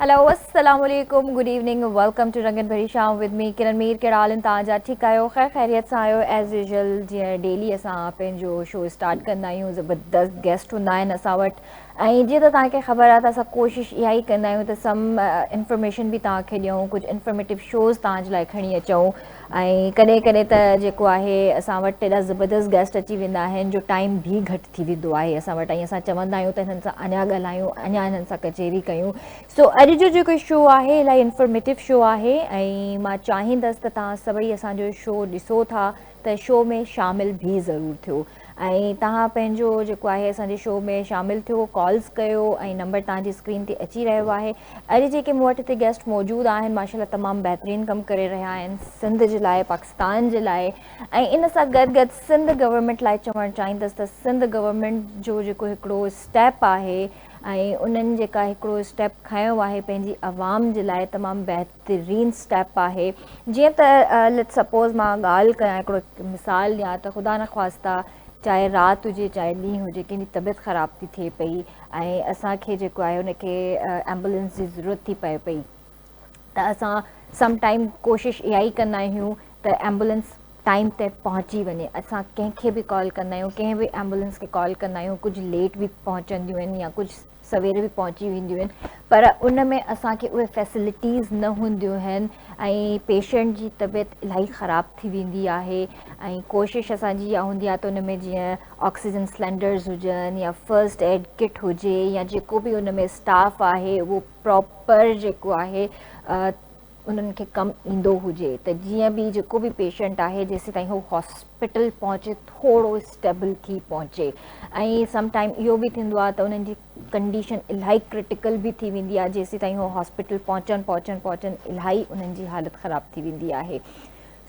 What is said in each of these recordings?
هلو السلام عليڪم good evening welcome to رنگين ڀري شام ود مي ڪرن مير ڪهڙا حال ان توهان جا ٺيڪ آهيو خير خيريت سان آهيو ايز يوزل جيئن ڊيلي اسان پنهنجو شو اسٽارٽ ڪندا آهيون زبردست گيسٽ هوندا آهن اسان وٽ ۽ جيئن ته توهان کي خبر آهي ته اسان ڪوشش اها ئي ڪندا آهيون ته سم انفارميشن به توهان کي ڏيون ڪجهه انفارميٽو شوز توهان جي لاء کڻي اچون ۽ ڪڏهن ڪڏهن ته جيڪو آهي اسان وٽ ايڏا زبردست گيسٽ اچي ويندا آهن جو ٽائيم به گهٽ ٿي ويندو آهي اسان وٽ ۽ اسان چوندا آهيون ته هنن سان اڃا ڳالهايون اڃا هنن سان ڪچهري ڪيون سو اڄ جو جيڪو شو آهي الاهي انفارميٽو شو آهي ۽ مان چاهيندس ته توهان سڀئي اسان جو شو ڏسو ٿا ته شو ۾ شامل به ضرور ٿيو ۽ توهان پنهنجو جيڪو آهي اسان جي شو ۾ شامل ٿيو ڪالز ڪيو ۽ نمبر توهان جي اسڪرين تي اچي رهيو آهي اڄ جيڪي مون وٽ هتي گيسٽ موجود آهن ماشاءالله تمام بهترين ڪم ڪري رهيا آهن سنڌ جي لاء پاڪستان جي لاء ۽ ان سان گڏ گڏ سنڌ گورنمينٽ لاء چوڻ چاهيندس ته سنڌ گورنمينٽ جو جيڪو هڪڙو اسٽيپ آهي ۽ انهن جيڪا هڪڙو اسٽيپ کنيو آهي پنهنجي عوام جي لاء تمام بهترين بهترين اسٽيپ آهي جيئن ته ليٽس سپوز مان ڳالهه ڪيان هڪڙو مثال ڏيان ته خدا نخواسته چاهي رات هجي چاهي ڏينهن هجي ڪنهن جي طبيعت خراب ٿي ٿئي پئي ۽ اسان کي جيڪو آهي ان کي ايمبولينس جي ضرورت ٿي پئي پئي ته اسان سم ٽائم ڪوشش اها ئي ڪندا آهيون ته ايمبولينس ٽائم تي پهچي وڃي اسان ڪنهن کي به ڪال ڪندا آهيون ڪنهن به ايمبولينس کي ڪال ڪندا آهيون ڪجهه ليٽ به پهچنديون آهن يا ڪجهه سوير به پهچي وينديون آهن پر ان ۾ اسان کي اهي فيسلٽيز نه هونديون آهن ۽ پيشنٽ جي طبيعت الاهي خراب ٿي ويندي آهي ۽ ڪوشش اسان جي اها هوندي آهي ته ان ۾ جيئن آڪسيجن سلينڊرز هجن يا فرسٽ ايڊ ڪٽ هجي يا جيڪو به ان ۾ اسٽاف آهي اهو پراپر جيڪو آهي انهن کي ڪم ايندو هجي ته جيئن به جيڪو به پيشنٽ آهي جيسيتائين هو هاسپيٽل پهچي ٿورو اسٽيبل ٿي پهچي ۽ سم ٽائيم اهو به ٿيندو آهي ته انهن جي ڪنڊيشن الاهي ڪرٽيڪل به ٿي ويندي آهي جيسيتائين هو هاسپيٽل پهچن پهچن پهچن الاهي انهن جي حالت خراب ٿي ويندي آهي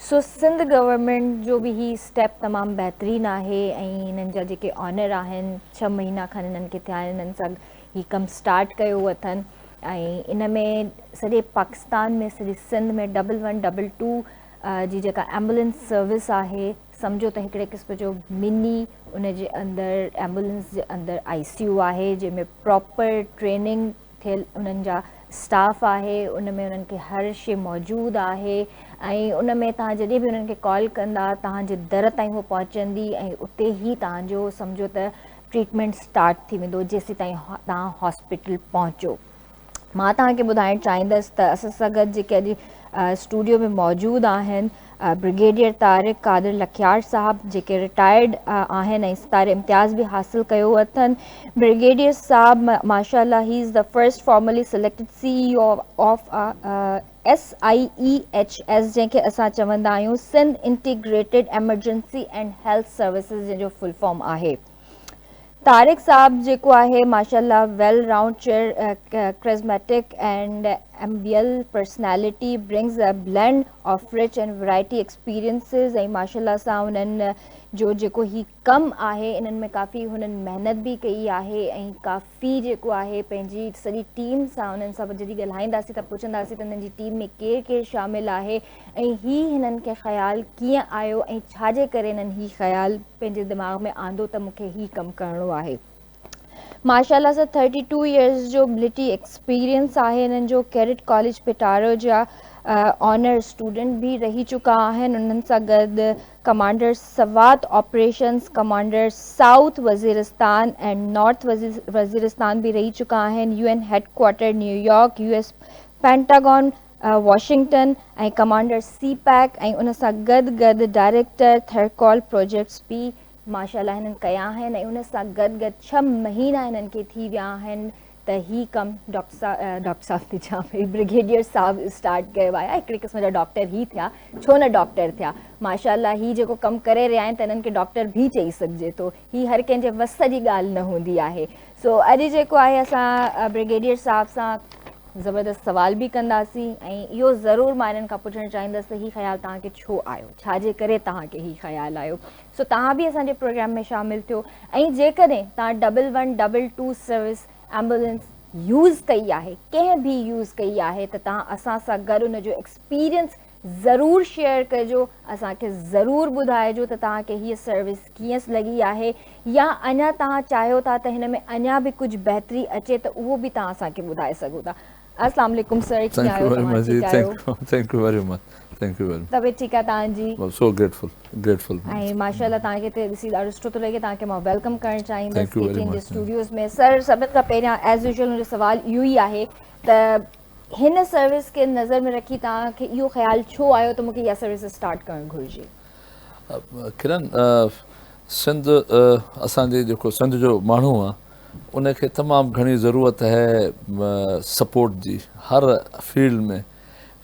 سو سنڌ گورنمنٽ جو به هي اسٽيپ تمام بهترين آهي ۽ هنن جا جيڪي آنر آهن ڇهه مهينا کن هنن کي ٿيا آهن هنن سان هي ڪم اسٽارٽ ڪيو اٿن ۽ ان ۾ سڄي پاڪستان ۾ سڄي Sindh ۾ double one double two جي جيڪا ايمبولنس سروس آهي سمجهو ته هڪڙي قسم جو مني ان جي اندر ايمبولنس جي اندر آئي سي يو آهي جنهن ۾ پراپر ٽريننگ ٿيل انهن جا اسٽاف آهي ان ۾ انهن کي هر شي موجود آهي ۽ ان ۾ توهان جڏهن به انهن کي ڪال ڪندا توهان جي در تائين هو پهچندي ۽ اتي هي توهان جو سمجهو ته ٽريٽمينٽ اسٽارٽ ٿي ويندو جيسيتائين توهان هاسپيٽل پهچو مان توهان کي ٻڌائڻ چاهيندس ته اسان سان گڏ جيڪي اڄ اسٽوڊيو ۾ موجود آهن برگيڊيئر طارق قادر لکيار صاحب جيڪي رٽائرڊ آهن ۽ ستاري امتياز به حاصل ڪيو اٿن برگيڊيئر صاحب ماشاء الله he is the first formally selected C of S I E H S جنهن کي اسان چوندا آهيون Sindh integrated emergency and health services جنهن جو فل فارم آهي طارق صاحب جيڪو آهي ماشاء الله well round cheer charismatic and amiable personality brings a blend of rich and variety experiences ۽ ماشاء الله سان انهن جو جيڪو هي ڪم آهي انهن ۾ ڪافي هنن محنت به ڪئي آهي ۽ ڪافي جيڪو آهي پنهنجي سڄي ٽيم سان انهن سان جڏهن ڳالهائينداسين ته پڇنداسين ته انهن جي ٽيم ۾ ڪير ڪير شامل آهي ۽ هي هنن کي خيال ڪيئن آيو ۽ ڇا جي ڪري هنن هي خيال پنهنجي دماغ ۾ آندو ته مون کي هي ڪم ڪرڻو آهي ماشاء الله سان ٿرٽي ٽو ايئرس جو ملٽري ايڪسپيرينس آهي انهن جو ڪيڊٽ ڪاليج پٽاڙو جا آنر اسٽوڊنٽ به رهي چڪا آهن انهن سان گڏ commander Swat operations commander south Waziristan ۽ north Waziristan به رهي چڪا آهن U N headquarter New York U S Pentagon Washington ۽ commander CPEC ۽ ان سان گڏ گڏ ڊائريڪٽر ٿرڪول پروجيڪٽس به ماشاءالله هنن ڪيا آهن ۽ ان سان گڏ گڏ ڇهه مهينا هنن کي ٿي ويا آهن ته هي ڪم ڊاڪٽر صاحب ٿي چيان پئي برگيڊيئر صاحب اسٽارٽ ڪيو آهي هڪڙي قسم جا ڊاڪٽر هي ٿيا ڇو نه ڊاڪٽر ٿيا ماشاءالله هي جيڪو ڪم ڪري رهيا آهن ته هنن کي ڊاڪٽر به چئي سگهجي ٿو هي هر ڪنهن جي وس جي ڳالهه نه هوندي آهي سو اڄ جيڪو آهي اسان برگيڊيئر صاحب سان زبردست سوال به ڪنداسين ۽ اهو ضرور مان هنن کان پڇڻ چاهيندس ته هي خيال توهان کي ڇو آيو ڇا جي ڪري توهان کي هي خيال آيو سو توهان به اسان جي پروگرام ۾ شامل ٿيو ۽ جيڪڏهن توهان double one double two service ambulance use ڪئي آهي ڪنهن به يوز ڪئي آهي ته توهان اسان سان گڏ ان جو ايڪسپيرينس ضرور شيئر ڪجو اسان کي ضرور ٻڌائجو ته توهان کي هيء سروس ڪيئنس لڳي آهي يا اڃا توهان چاهيو ٿا ته هن ۾ اڃا به ڪجهه بهتري اچي ته اهو به توهان اسان کي ٻڌائي سگهو ٿا اسلام عليڪم سر ڪيئن آهيو توهان ٺيڪ آهيو thank you very much thank you very طبيعت ٺيڪ آهي تان جي سو گريٽفل گريٽفل ۽ ماشاءالله تان کي ته ڏسي ڏاڍو سٺو ٿو لڳي تان کي مان ويلڪم ڪرڻ چاهيندس ڪي ٽي ان جي اسٽوڊيوز ۾ سر سڀن کان پهريان ايز يوزول منهنجو سوال اهو ئي آهي ته هن سروس کي نظر ۾ رکي تان کي اهو خيال ڇو آيو ته مونکي اها سروس اسٽارٽ ڪرڻ گهرجي ڪرن سنڌ اسان جي جيڪو سنڌ جو ماڻهو آهي ان کي تمام گهڻي ضرورت هي سپورٽ جي هر فيلڊ ۾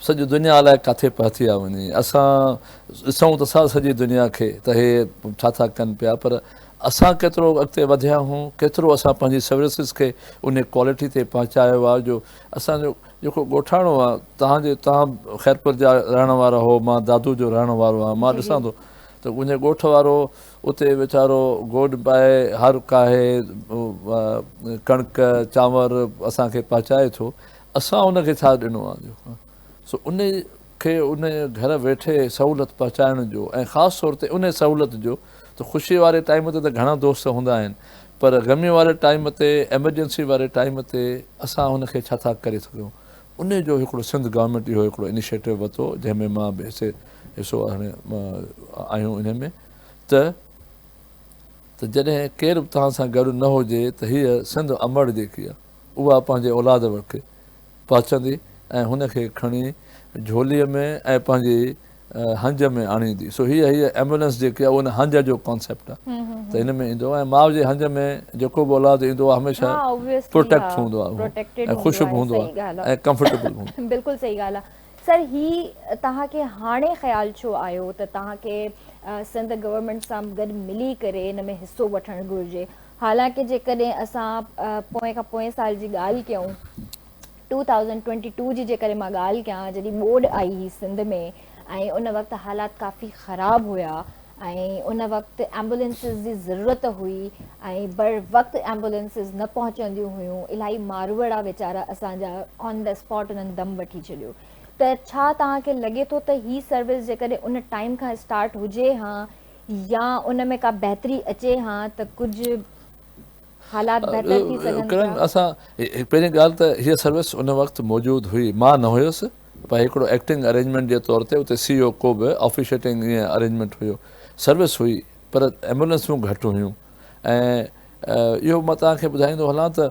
سڄي دنيا الائي ڪاٿي پهتي آ وڃي اسان ڏسون ته سا سڄي دنيا کي ته هي ڇا ٿا ڪن پيا پر اسان ڪيترو اڳتي وڌيا هون ڪيترو اسان پنهنجي سروسز کي ان ڪوالٽي تي پهچايو آ جو اسان جو جيڪو ڳوٺاڻو آ تهان جي تهان خيرپور جا رهڻ وارا هو مان دادو جو رهڻ وارو آ مان ڏسان ٿو ته منهنجي ڳوٺ وارو اتي ويچارو گوڏ پائي هر ڪاهي ڪڻڪ چانور اسان کي پهچائي ٿو اسان ان کي ڇا ڏنو آ جو سو ان کي ان گهر ويٺي سهولت پهچائڻ جو ۽ خاص طور تي ان سهولت جو ته خوشي واري ٽائيم تي ته گهڻا دوست هوندا آهن پر غمي واري ٽائيم تي ايمرجنسي واري ٽائيم تي اسان ان کي ڇا ٿا ڪري سگهيون ان جو هڪڙو سنڌ گورنمينٽ اهو هڪڙو انيشيٽو وتو جنهن ۾ مان به حصي حصو آهيون انهي ۾ ته ته جڏهن ڪير به توهان سان گڏ نه هجي ته هيء سنڌ امڙ جيڪي آهي، اها پنهنجي اولاد وٽ پهچندي ۽ هن کي کڻي جهوليء ۾ ۽ پنهنجي هنج ۾ آڻيندي. سو هيء هيء ايمبولينس جيڪي آهي اهو ان هنج جو ڪانسيپٽ آهي ته هن ۾ ايندو ۽ ماء جي هنج ۾ جيڪو به اولاد ايندو آهي هميشه پروٽيڪٽ هوندو آهي ۽ خوشي به هوندو آهي ۽ ڪمفرٽيبل به هوندو آهي. بلڪل صحيح ڳالهه آهي. سر هي توهان کي هاڻي خيال ڇو آيو ته توهان کي سنڌ گورنمينٽ سان گڏ ملي ڪري ان ۾ حصو وٺڻ گهرجي حالانڪ جيڪڏهن اسان پوئين کان پوئين سال جي ڳالهه ڪيون ٽو ٿائوزنڊ ٽوئنٽي ٽو جي جيڪڏهن مان ڳالهه ڪيان جڏهن ٻوڏ آئي هي سنڌ ۾ ۽ ان وقت حالات ڪافي خراب هيا ۽ ان وقت ايمبولينسز جي ضرورت هئي ۽ بر وقت ايمبولينسز نه پهچنديون هيون الائي ماروئڙا ويچارا اسان جا آن دي اسپاٽ انهن دم وٺي ڇڏيو ته ڇا توهان کي لڳي ٿو ته هي سروس جيڪڏهن ان ٽائيم کان اسٽارٽ هجي هان يا ان ۾ ڪا بهتري اچي هان ته ڪجهه حالات بهتر ٿي سگهن ٿا. ڪرن اسان پهرين ڳالهه ته هيء سروس ان وقت موجود هئي مان نه هيس پر هڪڙو ايڪٽنگ ارينجمينٽ جي طور تي اتي سي او ڪو به آفيشيٽنگ ائين ارينجمينٽ هيو سروس هئي پر ايمبولينسون گهٽ هيون ۽ اهو مان توهان کي ٻڌائيندو هلان ته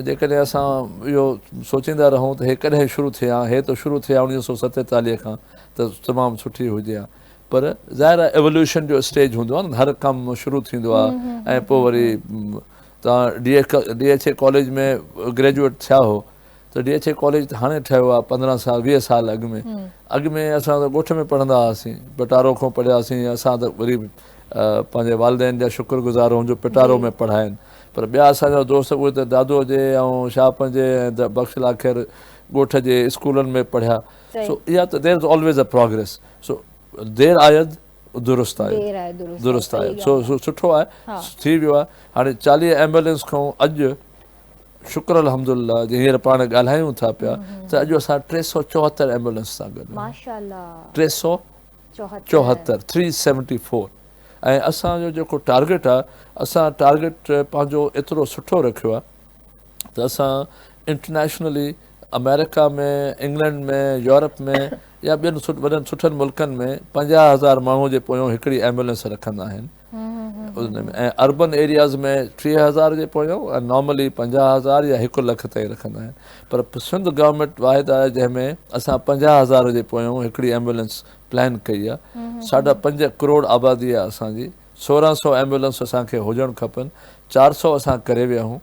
جيڪڏهن اسان اهو سوچيندا رهون ته هي ڪڏهن شروع ٿي ها هي ته شروع ٿي ها اوڻيهه سؤ ستيتاليهه کان ته تمام سٺي هجي ها پر ظاهر آهي ايولوشن جو اسٽيج هوندو آهي نه هر ڪم شروع ٿيندو آهي ۽ پوء وري تان D H D H A college ۾ graduate ٿيا هو ته ڊي ايچ اي ڪاليج ته هاڻي ٺهيو آهي پندرهن سال ويهه سال اڳ ۾ اڳ ۾ اسان ته ڳوٺ ۾ پڙهندا هئاسين پٽارو کان پڙهياسين اسان ته وري پنهنجي والدين جا شڪر گذار هون جو پٽارو ۾ پڙهائين پر ٻيا اسان جا دوست اهي ته دادو جي ۽ شاهه پنهنجي ۽ بخش لاکير ڳوٺ جي اسڪولن ۾ پڙهيا سو اها ته there is always a progress so there آيد درست آيد درست آيد سو سٺو آهي ٿي ويو آهي هاڻي چاليهه ايمبولينس کان اڄ شڪر الحمد لله جي هينئر پاڻ ڳالهايون ٿا پيا ته اڄ اسان ٽي سؤ چوهتر ايمبولينس سان گڏ ٽي سؤ چوهتر ٿري سيونٽي فور ۽ اسانجو جيڪو ٽارگيٽ آهي اسان ٽارگيٽ پنهنجو ايترو سٺو رکيو آهي ته اسان انٽرنيشنلي آمريڪا ۾ انگلينڊ ۾ يورپ ۾ يا ٻين وڏن سٺن ملڪن ۾ پنجاهه هزار ماڻهو جي پويون هڪڙي ايمبولينس رکندا آهن ۽ اربن ايرياز ۾ ٽيهه هزار جي پويون ۽ نارملي پنجاهه هزار يا هڪ لک تائين رکندا آهن پر سنڌ گورنمينٽ واحد آهي جنهن ۾ اسان پنجاهه هزار جي پويون هڪڙي ايمبولينس پلان ڪئي آهي ساڍا پنج ڪروڙ آبادي آهي اسانجي سورهن سؤ ايمبولنس اسان کي هجڻ کپن، چار سؤ اسان ڪري ويا آهيون،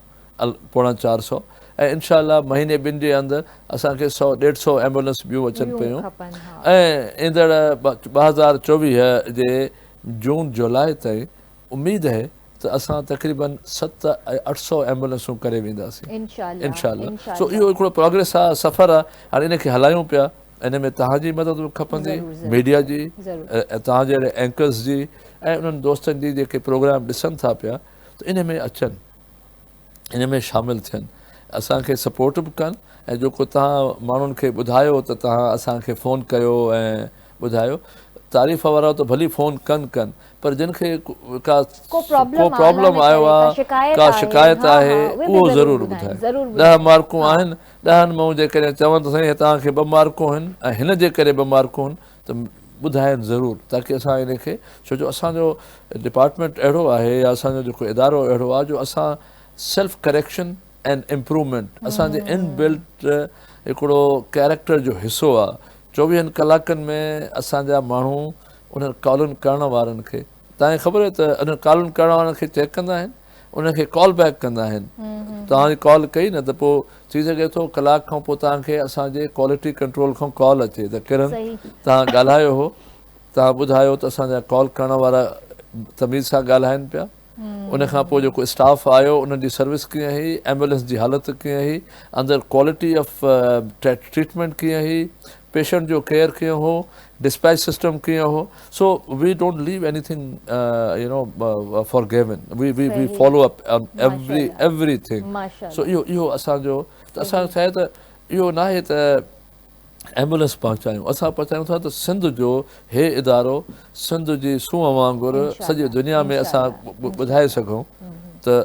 پوڻا چار سؤ ۽ انشاء الله مهيني ٻن جي اندر اسان کي سؤ ڏيڍ سؤ ايمبولنس ٻيون اچن پيون ۽ ايندڙ ٻه هزار چوويهه جي جون جولاء تائين اميد اهي ته اسان تقريبا ست ۽ اٺ سؤ ايمبولنسون ڪري وينداسين انشاء الله سو اهو هڪڙو پراگريس آهي سفر آهي هاڻي ان کي هلايون پيا. ان ۾ توهان جي مدد به کپندي ميڊيا جي ۽ توهان جهڙي اينڪرز جي ۽ انهن دوستن جي جيڪي پروگرام ڏسن ٿا پيا ته ان ۾ اچن ان ۾ شامل ٿين اسان کي سپورٽ به ڪن ۽ جيڪو توهان ماڻهن کي ٻڌايو ته توهان اسان کي فون ڪيو ۽ ٻڌايو تعريف وارا ته ڀلي فون ڪن ڪن پر جن کي ڪا ڪو پرابلم آيو آهي ڪا شڪايت آهي اهو ضرور ٻڌائين ڏهه مارڪون آهن ڏهن مان جيڪڏهن چون ته سائين توهان کي ٻه مارڪون آهن ۽ هن جي ڪري ٻه مارڪون آهن ته ٻڌاين ضرور تاڪي اسان ان کي ڇو جو اسان جو ڊپارٽمينٽ اهڙو آهي يا اسان جو جيڪو ادارو اهڙو آهي جو اسان سيلف ڪريڪشن اينڊ امپروومينٽ اسان جي ان بلٽ هڪڙو ڪيريڪٽر جو حصو آهي چوويهن ڪلاڪن ۾ اسان جا ماڻهو انهن ڪالن ڪرڻ وارن کي تان خبر آهي ته انهن ڪالن ڪرڻ وارن کي چيڪ ڪندا آهن ان کي ڪال بيڪ ڪندا آهن توهان جي ڪال ڪئي نه ته پوء ٿي سگهي ٿو ڪلاڪ کان پوء توهان کي اسان جي ڪوالٽي ڪنٽرول کان ڪال اچي ته ڪرن توهان ڳالهايو هو توهان ٻڌايو ته اسان جا ڪال ڪرڻ وارا تميز سان ڳالهائن پيا ان کان پوء جيڪو اسٽاف آيو انهن جي سروس ڪيئن هئي ايمبولينس جي حالت ڪيئن هئي اندر ڪوالٽي آف ٽريٽمينٽ ڪيئن هئي پيشنٽ جو ڪيئر ڪيئن هو، ڊسپيچ سسٽم ڪيئن هو، so we don't leave anything you know for given, we we we follow up on every everything, so اهو اهو اسان جو ته اسان کي ته اهو ناهي ته ايمبولينس پهچايون، اسان پهچايون ٿا ته سنڌ جو هي ادارو سنڌ جي سونهن وانگر سڄي دنيا ۾ اسان ٻڌائي سگهون ته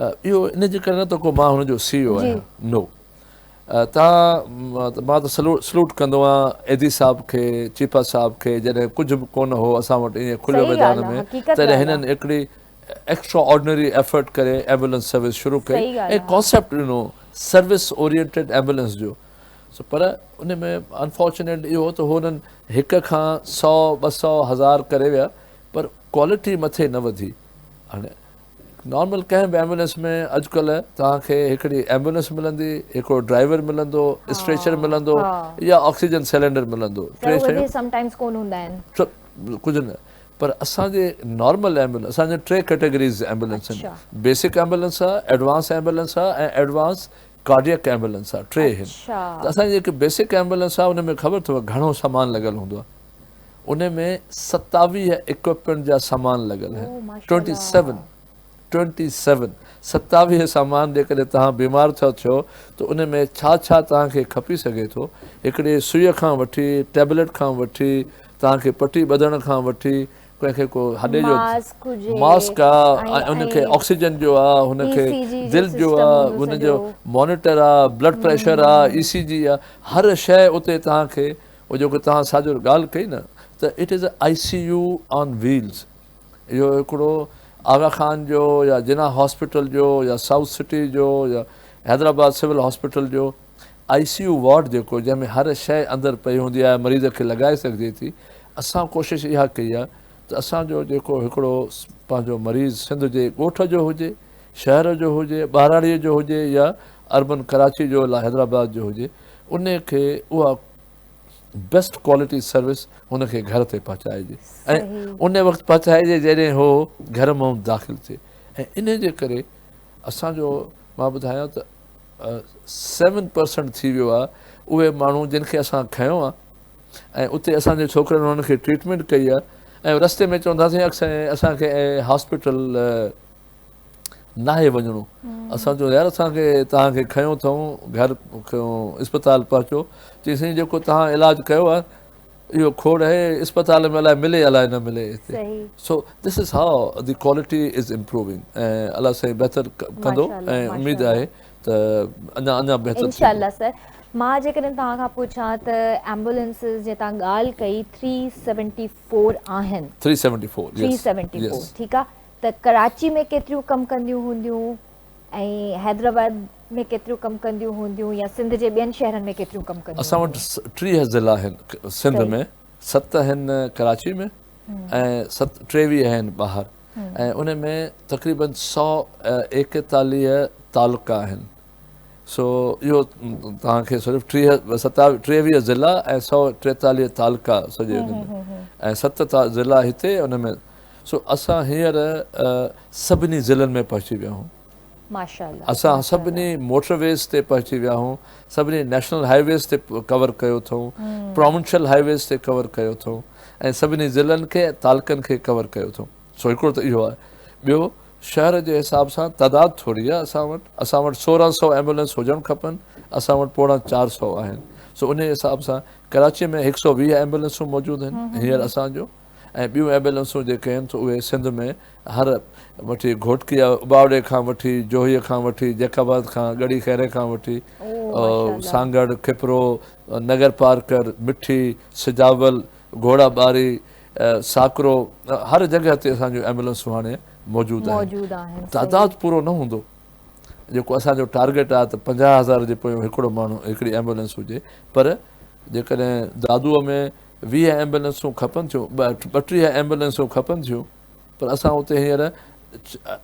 اهو ان جي ڪري نه ته ڪو مان هن جو سي او آهيان نو تان مان ته سلوٽ ڪندو آهيان ايڌي صاحب کي چيپا صاحب کي جڏهن ڪجهه به ڪونه هو اسان وٽ ائين کليو ميدان ۾ تڏهن هنن هڪڙي ايڪسٽرا آرڊنري ايفرٽ ڪري ايمبولنس سروس شروع ڪئي ۽ ڪانسيپٽ ڏنو سروس اورينٽيڊ ايمبولنس جو پر ان ۾ انفارچونيٽ اهو هو ته هو هنن هڪ کان سؤ ٻه سؤ هزار ڪري ويا پر ڪوالٽي مٿي نه وڌي هاڻي نارمل ڪنهن به ايمبولينس ۾ اڄڪلهه توهان کي هڪڙي ايمبولينس ملندي هڪڙو ڊرائيور ملندو اسٽريچر ملندو يا آڪسيجن سيلنڊر ملندو ٽي شيون سم ٽائمز ڪون هوندا آهن ڪجهه نه پر اسان جي نارمل ايمبولينس اسان جي ٽي ڪيٽيگريز ايمبولينس آهن بيسڪ ايمبولينس آهي ايڊوانس ايمبولينس آهي ۽ ايڊوانس ڪارڊيڪ ايمبولينس آهي ٽي آهن ته اسان جي جيڪي بيسڪ ايمبولينس آهي ان ۾ خبر اٿو گهڻو سامان لڳل هوندو آهي ان ۾ ستاويهه اڪوپمينٽ جا سامان لڳل آهن Twenty Seven Twenty Seven ستاويهه سامان جيڪڏهن توهان بيمار ٿا ٿيو ته ان ۾ ڇا ڇا توهان کي کپي سگهي ٿو هڪڙي سوئي کان وٺي ٽيبليٽ کان وٺي توهان کي پٽي ٻڌڻ کان وٺي ڪنهن کي ڪو هڏي جو ماسڪ آ ان کي آڪسيجن جو آ هن کي دل جو آ هن جو مانيٽر آ بلڊ پريشر آ اي سي جي آ هر شيء اتي توهان کي اهو جيڪو توهان ساڄور ڳالهه ڪئي نه ته it is a I C U on wheels اهو هڪڙو آغا خان جو يا جناح هاسپيٽل جو يا سائوٿ سٽي جو يا حيدرآباد سول هاسپيٽل جو آء سي يو وارڊ جيڪو جنهن ۾ هر شيء اندر پئي هوندي آهي مريض کي لڳائي سگهجي ٿي اسان ڪوشش اها ڪئي آهي ته اسان جو جيڪو هڪڙو پنهنجو مريض سنڌ جي ڳوٺ جو هجي شهر جو هجي ٻهراڙي جو هجي يا اربن ڪراچي جو يا حيدرآباد جو هجي ان کي اها بيسٽ ڪوالٽي سروس هن کي گهر تي پهچائجي ۽ ان وقت پهچائجي جڏهن هو گهر مان داخل ٿئي ۽ ان جي ڪري اسان جو مان ٻڌايان ته سيون پرسنٽ ٿي ويو آهي اهي ماڻهو جن کي اسان کنيو آهي ۽ اتي اسانجي ڇوڪرن انهن کي ٽريٽمينٽ ڪئي آهي ۽ رستي ۾ چونداسين اڪثر اسان کي هاسپيٽل ناهي وڃڻو اسان چيو يار اسان کي توهان کي کنيو اٿئون گهر اسپتال پهچو چي سائين جيڪو توهان علاج ڪيو آهي اهو کوڙ آهي اسپتال ۾ الائي ملي الائي نه ملي هتي so this is how the quality is improving ۽ الله سائين بهتر ڪندو ۽ اميد آهي ته اڃا اڃا بهتر انشاء الله سر مان جيڪڏهن توهان کان پڇان ته ايمبولينسز جي توهان ڳالهه ڪئي 374 آهن 374 ٺيڪ آهي ته ڪراچي ۾ ڪيتريون ڪم ڪنديون هونديون ۽ حيدرآباد ۾ ڪيتريون ڪم ڪنديون هونديون يا سنڌ جي ٻين شهرن ۾ ڪيتريون ڪم ڪنديون اسان وٽ هونديون. ٽيهه ضلعا آهن سنڌ ۾ ست آهن ڪراچي ۾ ۽ ست ٽيويهه آهن ٻاهر ۽ ان ۾ تقريبن سؤ ايڪيتاليهه تعلقا آهن سو اهو توهان کي صرف ٽيهه ٽيويهه ضلعا ۽ سؤ ٽيتاليهه تعلقا سڄي ان ۾ ۽ ست ضلعا هتي ان ۾ سو اسان هينئر سڀني ضلعن ۾ پهچي ويا آهيون. اسان سڀني موٽر ويز تي پهچي ويا آهيون. سڀني نيشنل هاء ويز تي ڪور ڪيو اٿئون. پراونشل هاء ويز تي ڪور ڪيو اٿئون ۽ سڀني ضلعن کي ۽ تعلقن کي ڪور ڪيو اٿئون. سو هڪڙو ته اهو آهي. ٻيو شهر جي حساب سان تعداد ٿوري آهي اسان وٽ. اسان وٽ سورهن سؤ ايمبولينس هجڻ کپن. اسان وٽ پوڻا چار سؤ آهن. سو انهي حساب سان ڪراچي ۾ هڪ سؤ ويهه ايمبولينسون موجود آهن هينئر اسان جون. ۽ ٻيون ايبيلنسون جيڪي آهن سو اهي سنڌ ۾ هر وٺي گهوٽڪي يا اباوڙي کان وٺي جوهي کان وٺي جيڪب آباد کان ڳڙهي خيري کان وٺي سانگهڙ کپرو نگر پارڪر مٺي سجاول گهوڙا ٻاري ساڪرو هر جڳهه تي اسان جون ايمبولنسون هاڻي موجود آهن تعداد پورو نه هوندو جيڪو اسان جو ٽارگيٽ آهي ته پنجاهه هزار جي پويان هڪڙو ماڻهو هڪڙي ايمبولنس هجي پر جيڪڏهن دادوء ۾ ويهه ايمبولينسون کپن ٿيون، ٻٽيهه ايمبولينسون کپن ٿيون پر اسان اتي هينئر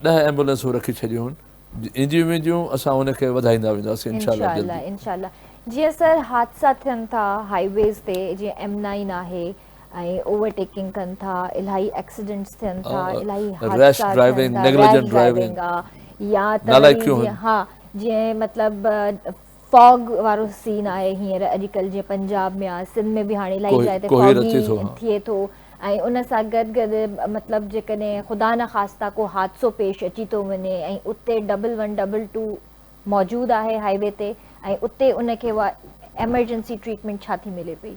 ڏهه ايمبولينسون رکي ڇڏيون آهن اينديون وينديون اسان ان کي وڌائيندا وينداسين انشاء الله جلدي. انشاء الله انشاء الله جيئن سر حادثا ٿين ٿا هاء ويز تي جيئن ايم نائين آهي ۽ اوور ٽيڪنگ ڪن ٿا الاهي ايڪسيڊنٽس ٿين ٿا الاهي حادثا ٿين ٿا ريش ڊرائيونگ آ يا ته وري جيئن ها جيئن مطلب فاگ وارو سين آهي هينئر اڄڪلهه جيئن پنجاب ۾ آهي سنڌ ۾ به هاڻي الائي جاء تي فاگي ٿئي ٿو ۽ ان سان گڏ گڏ مطلب جيڪڏهن خدا نه خاصتا ڪو حادثو پيش اچي ٿو وڃي ۽ اتي ڊبل ون ڊبل ٽو موجود آهي هاء وي تي ۽ اتي ان کي اها ايمرجنسي ٽريٽمينٽ ڇا ٿي ملي پئي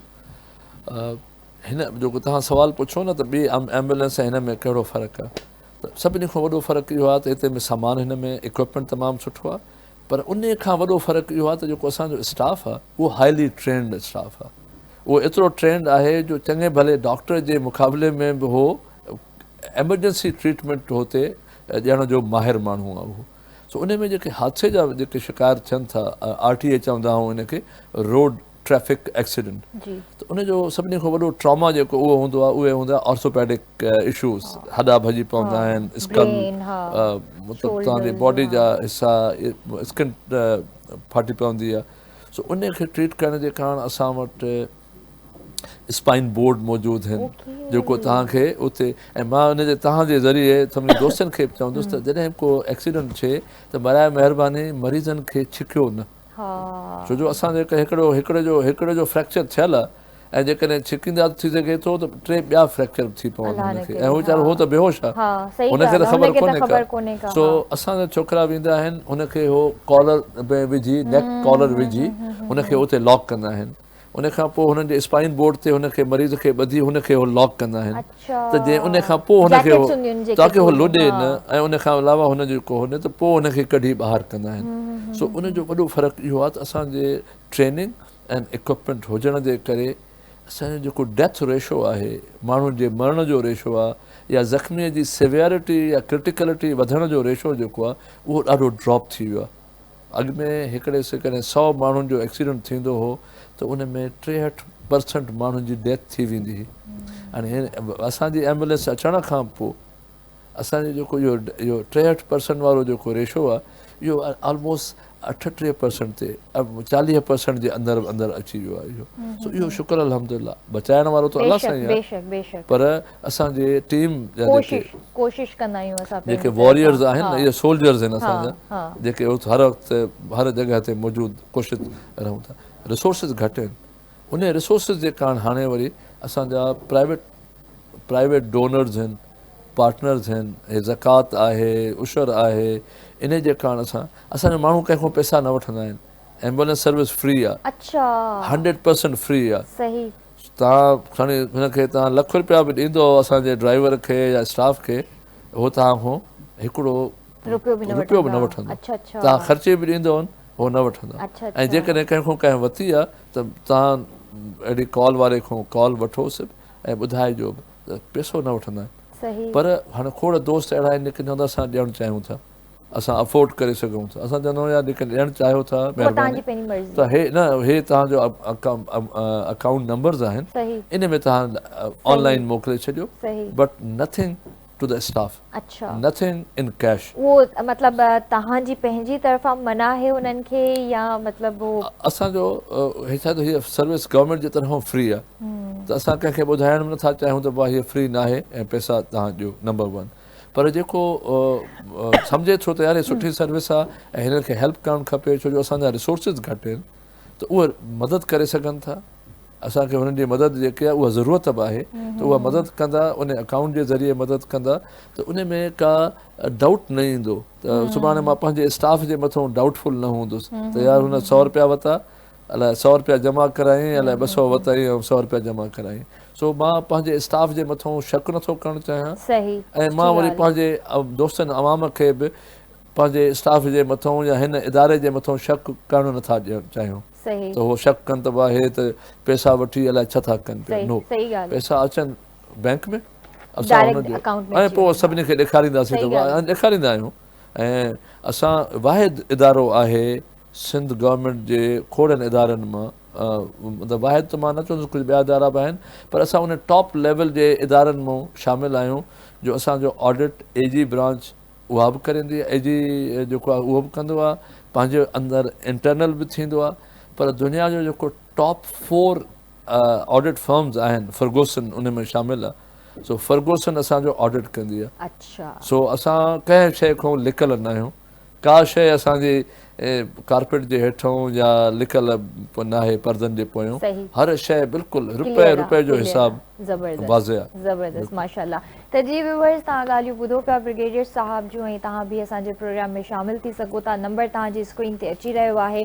هن جيڪو توهان سوال پڇو نه ته ٻي ايمبولينس هن ۾ ڪهڙو فرق آهي ته سڀني کان وڏو فرق اهو آهي ته هتي سامان هن ۾ اڪوپمينٽ تمام سٺو آهي پر انهي کان وڏو فرق اهو آهي ته جيڪو اسان جو اسٽاف آهي اهو هائلي ٽرينڊ اسٽاف آهي اهو ايترو ٽرينڊ آهي جو چڱي ڀلي ڊاڪٽر جي مقابلي ۾ به اهو ايمرجنسي ٽريٽمينٽ هتي ڏيڻ جو ماهر ماڻهو آهي اهو سو انهي ۾ جيڪي حادثي جا جيڪي شڪار ٿين ٿا آر ٽي اي چوندا آهون انهي کي روڊ ٽريفڪ ايڪسيڊنٽ ته ان جو سڀني کان وڏو ٽراما جيڪو اهو هوندو آهي اهي هوندا آهن آرٿوپيڊڪ اشوز هڏا ڀڄي پوندا آهن اسڪن مطلب توهان جي باڊي جا حصا اسڪن ڦاٽي پوندي آهي سو ان کي ٽريٽ ڪرڻ جي ڪارڻ اسان وٽ اسپائن بورڊ موجود آهن جيڪو توهان کي اتي ۽ مان ان جي توهان جي ذريعي سڀني دوستن کي به چوندس ته جڏهن ڪو ايڪسيڊنٽ ٿئي ته برائي مهرباني مريضن کي ڇڪيو نه ها. ڇو جو اسان جيڪر هڪڙو هڪڙي جو هڪڙي جو فريڪچر ٿيل ۽ جيڪڏهن ڇڪيندا ته ٿي سگهي ٿو ته ٽي ٻيا فريڪچر به ٿي پون هن کي ۽ هو ويچارو هو ته بيهوش آ هن کي ته خبر ڪونهي ڪا سو اسان جا ڇوڪرا ويندا آهن هن کي هو ڪالر ۾ وجهي نيڪ ڪالر وجهي هن کي اتي لاڪ ڪندا آهن ان کان پوء هنن جي اسپائن بورڊ تي هن کي مريض کي ٻڌي هن کي هو لاڪ ڪندا آهن ته جي ان کان پوء هن کي تاڪي هو لڏي نه ۽ ان کان علاوه هن جو ڪو هن ته پوء هن کي ڪڍي ٻاهر ڪندا آهن سو ان جو وڏو فرق اهو آهي ته اسان جي ٽريننگ ۽ اڪوپمينٽ هجڻ جي ڪري اسان جو جيڪو ڊيٿ ريشو آهي ماڻهن جي مرڻ جو ريشو آهي يا زخمي جي سيويرٽي يا ڪرٽيڪلٽي وڌڻ جو ريشو جيڪو آهي اهو ڏاڍو ڊراپ ٿي ويو آهي اڳ ۾ هڪڙي سيڪنڊ سؤ ماڻهن جو ايڪسيڊنٽ ٿيندو هو ته ان ۾ ٽيهٺ پرسنٽ ماڻهن جي ڊيٿ ٿي ويندي هئي هاڻي اسان جي ايمبولينس اچڻ کان پوء اسان جو جيڪو اهو اهو ٽيهٺ پرسنٽ وارو جيڪو ريشو آهي اهو آلموسٽ اٺٽيهه پرسنٽ تي چاليهه پرسنٽ جي اندر اندر اچي ويو آهي اهو سو اهو شڪر الحمد لله بچائڻ وارو ته الله سائين آهي پر اسان جي ٽيم جا جيڪي ڪوشش ڪندا آهيون اسان پنهنجي جيڪي واريئرز آهن نه اهي سولجرز آهن اسان جا جيڪي هر وقت هر جڳهه تي موجود ڪوشش رهون ٿا رسورسز گهٽ آهن انهي رسورسز جي ڪارڻ هاڻي وري اسان جا پرائيويٽ پرائيويٽ ڊونرز آهن پارٽنرز آهن هي زڪوات آهي عشر آهي انهي جي ڪارڻ اسان اسان جا ماڻهو ڪنهن کان پئسا نه وٺندا آهن ايمبولينس سروس فري آهي اچا هنڊريڊ پرسنٽ فري آهي صحيح توهان کڻي هن کي توهان لک رپيا به ڏيندو اسان جي ڊرائيور کي يا اسٽاف کي هو توهان کان هڪڙو رپيو به نه وٺندو توهان خرچي به ڏيندو هن هو نه وٺندا ۽ جيڪڏهن ڪنهن کان ڪنهن وتي آهي ته توهان اهڙي ڪال واري کان ڪال وٺو سڀ ۽ ٻڌائجو به ته پيسو نه وٺندا آهن پر هاڻي کوڙ دوست اهڙا آهن جيڪي چوندا اسان ڏيڻ چاهيون ٿا اسان افورڊ ڪري سگهون ٿا اسان چوندو يار جيڪڏهن ڏيڻ چاهيو ٿا مهرباني ته هي نه هي توهان جو اڪائونٽ نمبرز آهن ان ۾ توهان آنلائن موڪلي ڇڏيو but nothing to the staff nothing in cash اهو مطلب توهان جي پنهنجي طرفان منع آهي انهن کي يا مطلب اسان جو هي ڇا ته هي سروس گورنمنٽ جي طرفان فري آهي ته اسان ڪنهن کي ٻڌائڻ نه ٿا چاهيون ته بابا هي فري ناهي ۽ پئسا توهان ڏيو نمبر ون پر جيڪو سمجهي ٿو ته يار هي سٺي سروس آ ۽ هنن کي هيلپ ڪرڻ کپي ڇو جو اسان جا ريسورسز گهٽ آهن ته اهي مدد ڪري سگهن ٿا اسان کي هنن جي مدد جيڪي آهي اها ضرورت به آهي ته اها مدد ڪندا ان اڪائونٽ جي ذريعي مدد ڪندا ته ان ۾ ڪا ڊائوٽ نه ايندو ته سڀاڻي مان پنهنجي اسٽاف جي مٿو ڊائوٽ فل نه هوندس ته يار هن سؤ روپيا وتا الاء سؤ رپيا جمع ڪرايائين الاء ٻه سؤ وتائين ۽ سؤ رپيا جمع ڪرايائين سو مان پنهنجي اسٽاف جي مٿان شڪ نه ٿو ڪرڻ چاهيان ۽ مان وري پنهنجي دوستن عوام کي به پنهنجي اسٽاف جي مٿان يا هن اداري جي مٿان شڪ ڪرڻ نه ٿا ڏيڻ چاهيون ته هو شڪ ڪن ته واهي ته پئسا وٺي الاء ڇا ٿا ڪن پيا نو پئسا اچن بئنڪ ۾ اسان هن جو ۽ پوء سڀني کي ڏيکارينداسين ته ڏيکاريندا آهيون ۽ اسان واحد ادارو آهي سنڌ گورنمينٽ جي کوڙن ادارن مان مطلب واحد ته مان نه چوندس ڪجهه ٻيا ادارا به آهن پر اسان ان ٽاپ ليول جي ادارن مان شامل آهيون جو اسان جو آڊٽ اي جي برانچ اها به ڪريندي اي جي جيڪو آهي اهو به ڪندو آهي پنهنجي اندر انٽرنل به ٿيندو آهي پر دنيا جو جيڪو ٽاپ فور آڊٽ فرمز آهن فرگوسن ان ۾ شامل آهي سو فرگوسن اسان جو آڊٽ ڪندي آهي سو اسان ڪنهن شيء کان لڪل نه آهيون ڪا شيء اسان جي ڪارپيٽ جي هيٺئون يا لڪل ناهي پردن جي پويون هر شيء بلڪل رپئي رپئي جو حساب واضح آهي. زبردست ماشاءالله ته جي ويوورز تهان ڳالهيون ٻڌو پيا برگيڊيئر صاحب جون ۽ تهان به اسان جي پروگرام ۾ شامل ٿي سگهو ٿا نمبر تهان جي اسڪرين تي اچي رهيو آهي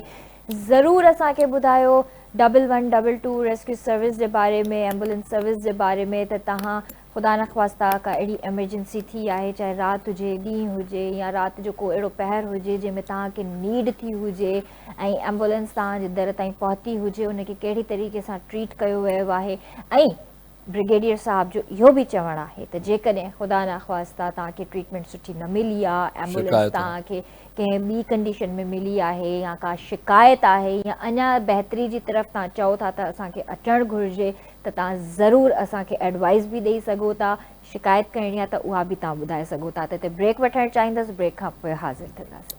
ضرور اسان کي ٻڌايو double one double two rescue service جي باري ۾ ايمبولنس سروس جي باري ۾ ته تهان خدا نخواسته ڪا اهڙي ايمرجنسي ٿي آهي، چاهي رات هجي، ڏينهن هجي يا رات جو ڪو اهڙو پهر هجي جنهن ۾ توهان کي نيڊ ٿي هجي ۽ ايمبولينس توهان جي در تائين پهتي هجي ان کي ڪهڙي طريقي سان ٽريٽ ڪيو ويو آهي ۽ برگيڊيئر صاحب جو اهو به چوڻ آهي ته جيڪڏهن خدا نخواسته توهان کي ٽريٽمينٽ سٺي نه ملي آهي ايمبولينس توهان کي ڪنهن ٻي ڪنڊيشن ۾ ملي آهي يا ڪا شڪايت آهي يا اڃا بهتري جي طرف تان چئو ٿا ته اسان کي اچڻ گهرجي ته تان ضرور اسان کي ايڊوائيس به ڏئي سگهو ٿا شڪايت ڪرڻي آهي ته اها به تان ٻڌائي سگهو ٿا ته هتي بريڪ وٺڻ چاهيندس بريڪ کان پوء حاضر ٿينداسين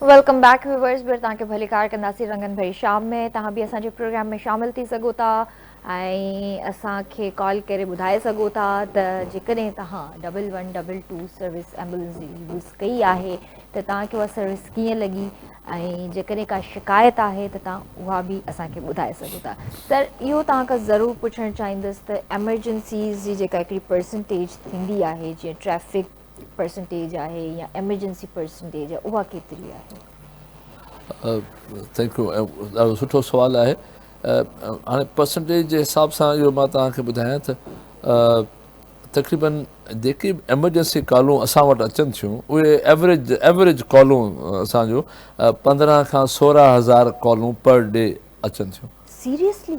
ويلڪم بيڪ ويورز ٻيھر توھان کي ڀليڪار ڪنداسين رنگن ڀري شام ۾ توھان به اسان جي پروگرام ۾ شامل ٿي سگھو ٿا ۽ اسان کي ڪال ڪري ٻڌائي سگھو ٿا ته جيڪڏهن توھان double one double two service ambulance جي يوز ڪئي آھي ته توھان کي اها سروس ڪيئن لڳي ۽ جيڪڏهن ڪا شڪايت آھي ته توھان اها به اسان کي ٻڌائي سگھو ٿا سر اهو توھان کان ضرور پڇڻ چاهيندس ته ايمرجنسيز جي جيڪا هڪڙي پرسنٽيج ٿيندي آھي جيئن ٽريفڪ پرسنٽيج آهي يا ايمرجنسي پرسنٽيج آهي اها ڪيتري آهي؟ ٿينڪ يو ڏاڍو سٺو سوال آهي هاڻي پرسنٽيج جي حساب سان اهو مان توهان کي ٻڌايان ته تقريبن جيڪي به ايمرجنسي ڪالون اسان وٽ اچن ٿيون اهي ايوریج ايوریج ڪالون اسانجو پندرهن کان سورهن هزار ڪالون پر ڊي اچن ٿيون سيريسلي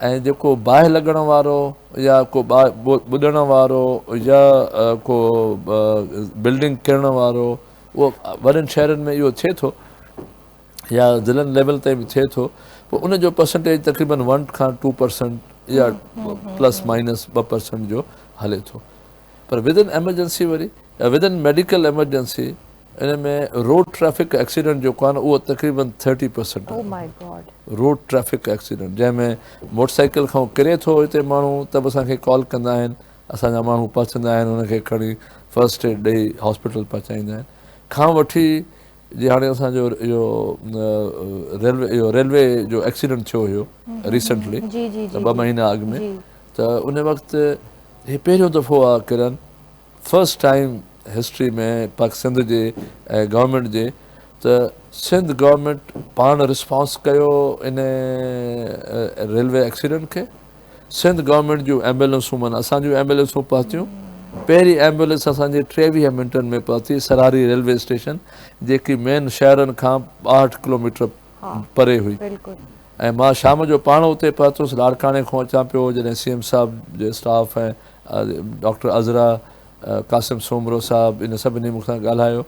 ۽ جيڪو باهه لڳڻ وارو يا ڪو ٻڏڻ وارو يا ڪو بلڊنگ ڪرڻ وارو اهو وڏن شهرن ۾ اهو ٿئي ٿو يا ضلعن ليول تائين به ٿئي ٿو پوء ان جو پرسنٽيج تقريبن ون کان ٽو پرسنٽ يا پلس مائنس ٻه پرسنٽ جو هلي ٿو پر ود ان ايمرجنسي وري يا ود ان ميڊيڪل ايمرجنسي ان ۾ روڊ ٽريفڪ ايڪسيڊنٽ جيڪو آهي نه اهو تقريبن ٿرٽي پرسنٽ آهي روڊ ٽريفڪ ايڪسيڊنٽ جنهن ۾ موٽر سائيڪل کان هو ڪري ٿو هتي ماڻهو ته به اسان کي ڪال ڪندا آهن اسان جا ماڻهو پهچندا آهن هن کي کڻي فرسٽ ايڊ ڏئي هاسپيٽل پهچائيندا آهن کان وٺي جي هاڻي اسان جو اهو ريلوي اهو ريلوي جو ايڪسيڊنٽ ٿيو هيو ريسنٽلي ٻه مهينا اڳ ۾ ته ان وقت هي پهريون دفعو آ ڪرن فرسٽ ٽائيم هسٽري ۾ پاڪ سنڌ جي ۽ گورنمينٽ جي ته سنڌ گورنمينٽ پاڻ رسپانس ڪيو ان ريلوي ايڪسيڊنٽ کي سنڌ گورنمينٽ جون ايمبولينسون معنی اسان جون ايمبولينسون پهتيون پهرين ايمبولينس اسان جي ٽيويهه منٽن ۾ پهتي سراري ريلوي اسٽيشن جيڪي مين شهرن کان ٻاهٺ ڪلوميٽر پري هئي ۽ مان شام جو پاڻ اتي پهتس لاڙڪاڻي کون اچان پيو جڏهن سي ايم صاحب جي اسٽاف ۽ ڊاڪٽر عذرا قاسم سومرو صاحب ان سڀني مون سان ڳالهايو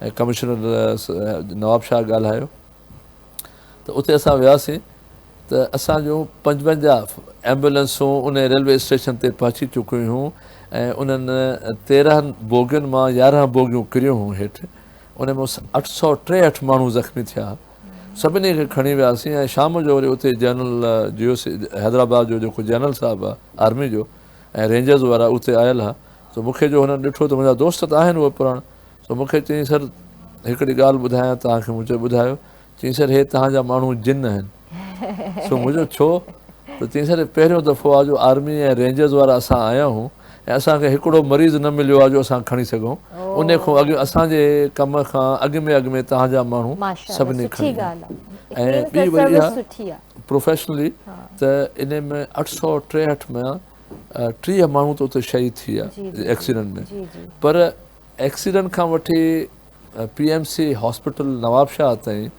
۽ ڪمشنر نواب شاهه ڳالهايو ته اتي اسان وياسين ته اسان جون پنجونجاهه ايمبولينسون ان ريلوي اسٽيشن تي پهچي چڪيون هيون ۽ انهن تيرهن بوگين مان يارهن بوگيون ڪريون هيون هيٺ ان ۾ اٺ سؤ ٽيهٺ ماڻهو زخمي ٿيا سڀني کي کڻي وياسين ۽ شام جو وري اتي جنرل جيوس حيدرآباد جو جيڪو جنرل صاحب آ آرمي جو ۽ رينجرز وارا اتي آيل ها سو مون کي جو هنن ڏٺو ته منهنجا دوست ته آهن اهي پراڻا سو مون کي چيائين سر هڪڙي ڳالهه ٻڌايان توهان کي مون چيو ٻڌايو چيائين سر هي توهان جا ماڻهو جن آهن سو مون چيو ڇو ته چيائين سر هي پهريون دفعو آ جو آرمي ۽ رينجرز وارا اسان آيا آهيون ۽ اسان کي هڪڙو مريض نه مليو آهي جو اسان کڻي سگهون انهي کون اڳ اسان جي ڪم کان اڳ ۾ اڳ ۾ توهان جا ماڻهو سڀني کڻي آهن ۽ ٻي وري اها پروفيشنلي ته انهي ۾ اٺ سؤ ٽيهٺ ۾ ٽيهه ماڻهو ته اتي شهيد ٿي ويا ايڪسيڊنٽ ۾ پر ايڪسيڊنٽ کان وٺي P M C hospital Nawabshah تائين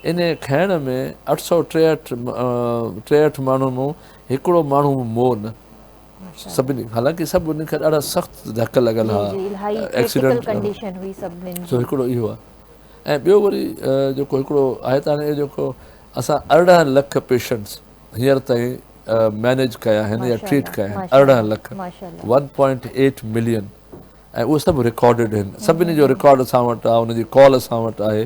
انهي کڻڻ ۾ اٺ سؤ ٽيهٺ ٽيهٺ ماڻهن مون هڪڙو ماڻهو مون نه سڀني حالانڪه سڀ انهن کي ڏاڍا سخت ڌڪ لڳل ها ايڪسيڊنٽ ڪنڊيشن هئي سڀني جو هڪڙو اهو آهي ۽ ٻيو وري جيڪو هڪڙو آهي ته هاڻي جيڪو اسان ارڙهن لک پيشنٽس هينئر تائين مينيج ڪيا آهن يا ٽريٽ ڪيا آهن ارڙهن lakh one point eight million ۽ اهو سڀ رڪارڊڊ آهن سڀني جو رڪارڊ اسان وٽ آهي ان جي ڪال اسان وٽ آهي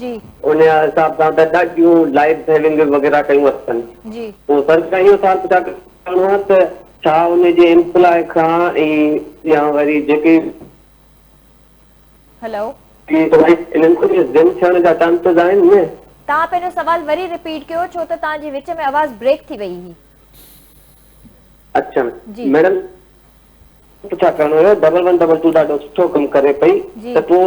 جي. ان حساب سان ته ڏاڍيون لائيف سيونگ وغيره ڪيون اٿن. جي. پوء سرڪار اهو حساب ڪتاب ڪرڻو آهي ته ڇا ان جي ايمپلاء کان ۽ يا وري جيڪي. هلو. انهن کي به ضم ٿيڻ جا چانسز آهن نه. توهان پنهنجو سوال وري رپيٽ ڪيو ڇو ته توهان جي وچ ۾ آواز بريڪ ٿي وئي هئي. اڇا ميڊم ڇا ڪرڻو هيو ڊبل ون ڊبل ٽو ڏاڍو سٺو ڪم ڪري پئي ته پوء.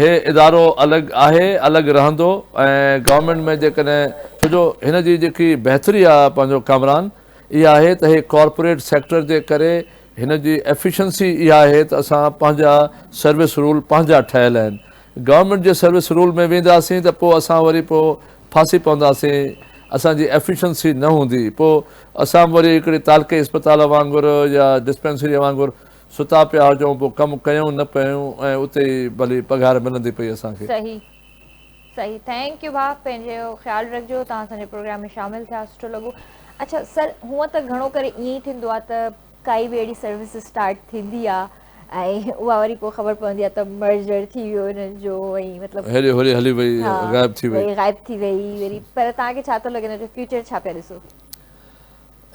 هي ادارو الڳ آهي الڳ رهندو ۽ گورنمينٽ ۾ جيڪڏهن ڇو جو هن جي جيڪي بهتري آهي پنهنجو ڪامران اها آهي ته هي ڪارپوريٽ سيڪٽر جي ڪري هن جي ايفيشنسي اها آهي ته اسان پنهنجا سروس رول پنهنجا ٺهيل آهن گورنمينٽ جي سروس رول ۾ وينداسين ته پوء اسان وري پوء ڦاسي پونداسين اسان جي ايفيشنسي نه هوندي پوء اسان وري هڪڙي تعلقي اسپتال وانگر يا ڊسپينسري وانگر ستا پيا هجون پوء ڪم ڪيون نه پيون ۽ اتي ئي ڀلي پگهار ملندي پئي اسان کي. صحيح صحيح ٿينڪ يو ڀاء پنهنجو خيال رکجو توهان اسان جي پروگرام ۾ شامل ٿيا سٺو لڳو اڇا سر هونء ته گهڻو ڪري ائين ئي ٿيندو آهي ته ڪائي به اهڙي سروس اسٽارٽ ٿيندي آهي ۽ اها وري پوء خبر پوندي آهي ته مرجر ٿي ويو انهن جو ۽ مطلب هيڏي هوري هلي وئي غائب ٿي وئي غائب ٿي وئي وري پر توهان کي ڇا ٿو لڳي ان جو فيوچر ڇا پيا ڏسو.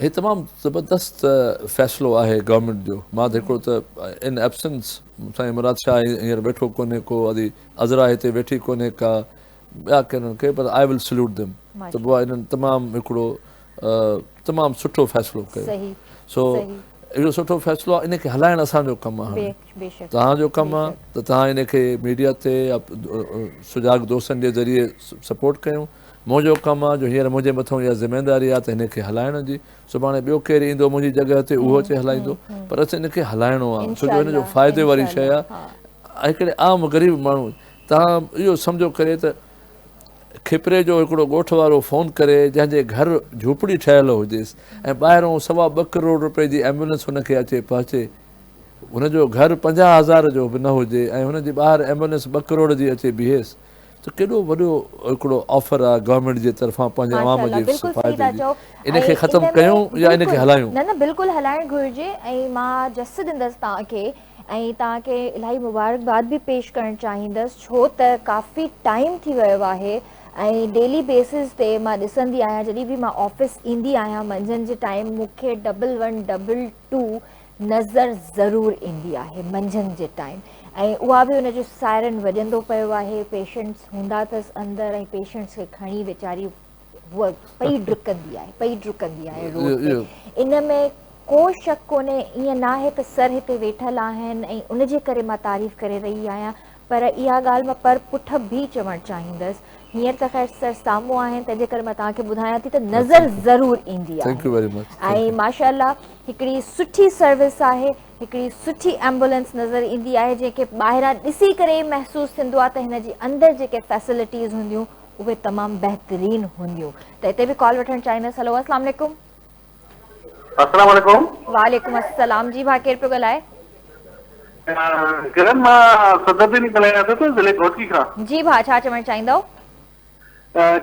هي تمام زبردست فيصلو آهي گورنمينٽ جو مان ته هڪڙو ته ان ائبسنس سائين مراد شاهه هينئر ويٺو ڪونهي ڪو ادي عذرا هتي ويٺي ڪونهي ڪا ٻيا ڪنن کي پر آء ول سلوٽ ديم ته بوا انهن تمام هڪڙو تمام سٺو فيصلو ڪيو سو اهڙو سٺو فيصلو آهي ان کي هلائڻ اسان جو ڪم آهي توهان جو ڪم آهي ته توهان ان کي ميڊيا تي سجاڳ دوستن جي ذريعي سپورٽ ڪيون منهنجو ڪم آ جو هينئر منهنجي مٿئون اها ذميداري آ ته هن کي هلائڻ جي. سڀاڻي ٻيو ڪير ايندو منهنجي جڳهه تي اهو اچي هلائيندو. پر اسين هن کي هلائڻو آ ڇو جو هن جو فائدي واري شيء آ. ۽ هڪڙي عام غريب ماڻهو تان اهو سمجهو ڪري ته کپري جو هڪڙو ڳوٺ وارو فون ڪري جنهن جي گهر جهوپڙي ٺهيل هجيس ۽ ٻاهرئون سوا ٻه ڪروڙ روپين جي ايمبولنس هن کي اچي پهچي. هن جو گهر پنجاهه هزار جو به نه هجي ۽ هن جي ٻاهر ايمبولنس ٻه ڪروڙ جي اچي بيهيس. ته ڪيڏو وڏو هڪڙو آفر آ گورنمينٽ جي طرفان پنهنجي عوام جي فائدي جي ان کي ختم ڪيون يا ان کي هلايون. نه نه بلڪل هلائڻ گهرجي ۽ مان جس ڏندس توهان کي ۽ توهان کي الاهي مبارڪباد به پيش ڪرڻ چاهيندس ڇو ته ڪافي ٽائيم ٿي ويو آهي ۽ ڊيلي بيسز تي مان ڏسندي آهيان جڏهن به مان آفيس ايندي آهيان منجهند جي ٽائيم مون کي ڊبل ون ڊبل ٽو نظر ضرور ايندي آهي منجهند جي ٽائيم ۽ اها به ان جو سائرن وڄندو پيو آهي پيشنٽس هوندا اٿس اندر ۽ پيشنٽس کي کڻي ويچاري هوء پئي ڊڪندي آهي پئي ڊڪندي آهي روڊ تي ان ۾ ڪو شڪ ڪونهي ائين ناهي ته سر هتي ويٺل آهن ۽ ان جي ڪري مان تعريف ڪري رهي آهيان پر اها ڳالهه مان پر پٺ به چوڻ چاهيندس. هينئر ته خير سر سامهون آهن تنهنجي ڪري مان توهان کي ٻڌايان ٿي ته نظر ضرور ايندي آهي ۽ ماشاء الله هڪڙي سٺي سروس آهي هڪڙي سٺي ايمبولينس نظر ايندي آهي جنهن کي ٻاهران ڏسي ڪري ئي محسوس ٿيندو آهي ته هن جي اندر جيڪي فيسلٽيز هونديون اهي تمام بهترين هونديون ته هتي به ڪال وٺڻ چاهيندس هلو السلام عليڪم السلام عليڪم. وعليڪم السلام جي ڀا ڪير پيو ڳالهائي. ڪرن مان صدر ديني ڳالهايان ٿو ته ضلعي گهوٽڪي کان. جي ڀا ڇا چوڻ چاهيندؤ.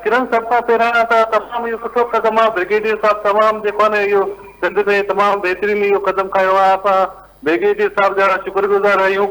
ڪرن سڀ کان پهريان ته تمام اهو سٺو قدم آهي بريگيڊيئر صاحب تمام جيڪو آهي نه اهو سنڌ ۾ تمام بهترين اهو قدم کنيو آهي اسان بريگيڊيئر صاحب جا شڪر گذار آهيون.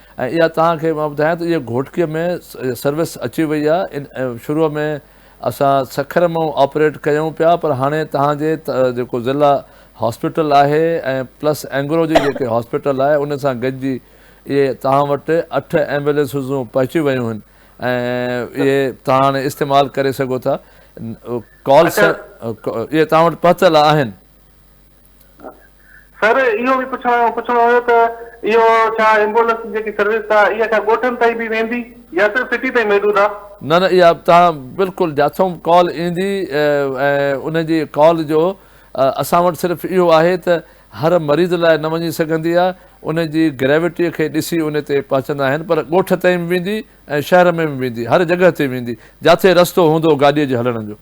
۽ اها توهان کي مان ٻڌايان ته اهي گهوٽڪي ۾ سروس اچي وئي آهي ان شروع ۾ اسان سکر مئو آپريٽ ڪيون پيا پر هاڻي توهان جي جيڪو ضلع هاسپيٽل آهي ۽ پلس اينگرو جي جيڪي هاسپيٽل آهي ان سان گڏجي اهي توهان وٽ اٺ ايمبولينسزون پهچي ويون آهن ۽ اهي توهان هاڻي استعمال ڪري سگهو ٿا ڪال اهي توهان وٽ پهتل آهن سر اهو به پڇڻو پڇڻو هيو ته اهو ڇا ايمبولنس جي جيڪي سروس آ اها ڇا ڳوٺن تائين به ويندي يا صرف سٽي تائين محدود آ؟ نه نه اها توهان بلڪل جاٿوم ڪال ايندي ۽ ان جي ڪال جو اسان وٽ صرف اهو آهي ته هر مريض لاء نه وڃي سگهندي آ ان جي گريوٽي کي ڏسي ان تي پهچندا آهن پر ڳوٺ تائين به ويندي ۽ شهر ۾ به ويندي هر جڳهه تي ويندي جاٿي رستو هوندو گاڏي جي هلڻ جو.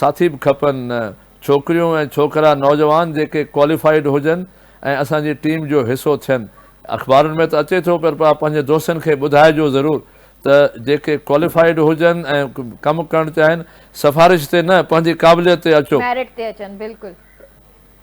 ساٿي به کپن نه ڇوڪريون ۽ ڇوڪرا نوجوان جيڪي ڪواليفائيڊ هجن ۽ اسان جي ٽيم جو حصو ٿين. اخبارن ۾ ته اچي ٿو پر پا پنهنجي دوستن کي ٻڌائجو ضرور ته جيڪي ڪواليفائيڊ هجن ۽ ڪم ڪرڻ چاهين سفارش تي نه پنهنجي قابليت تي اچو. ميرٽ تي اچن بلڪل.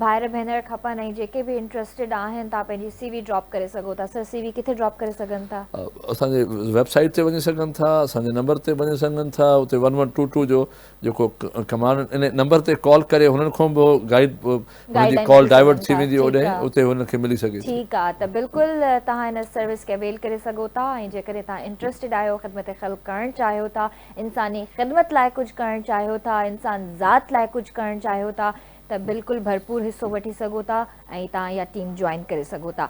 ڀائر ڀينر کپن ۽ جيڪي به انٽرسٽيڊ آهن تان پنهنجي سي وي ڊراپ ڪري سگهو ٿا سر سي وي ڪٿي ڊراپ ڪري سگهن ٿا. اسان جي ويب سائيٽ تي وڃي سگهن ٿا اسان جي نمبر تي وڃي سگهن ٿا اتي ون ون ٽو ٽو جو جيڪو ڪمانڊ ان نمبر تي ڪال ڪري هنن کون به گائيڊ هن جي ڪال ڊائيورٽ ٿي ويندي اوڏي اتي هن کي ملي سگهي ٿي ٺيڪ آ ته بلڪل توهان هن سروس کي اويل ڪري سگهو ٿا ۽ جيڪڏهن توهان انٽرسٽيڊ آهيو خدمت خلق ڪرڻ چاهيو ٿا انساني خدمت لاء ڪجهه ڪرڻ چاهيو ٿا انسان ذات لاء ڪجهه ڪرڻ چاهيو ٿا ته بلڪل ڀرپور حصو وٺي سگهو ٿا ۽ تان اها ٽيم جوائن ڪري سگهو ٿا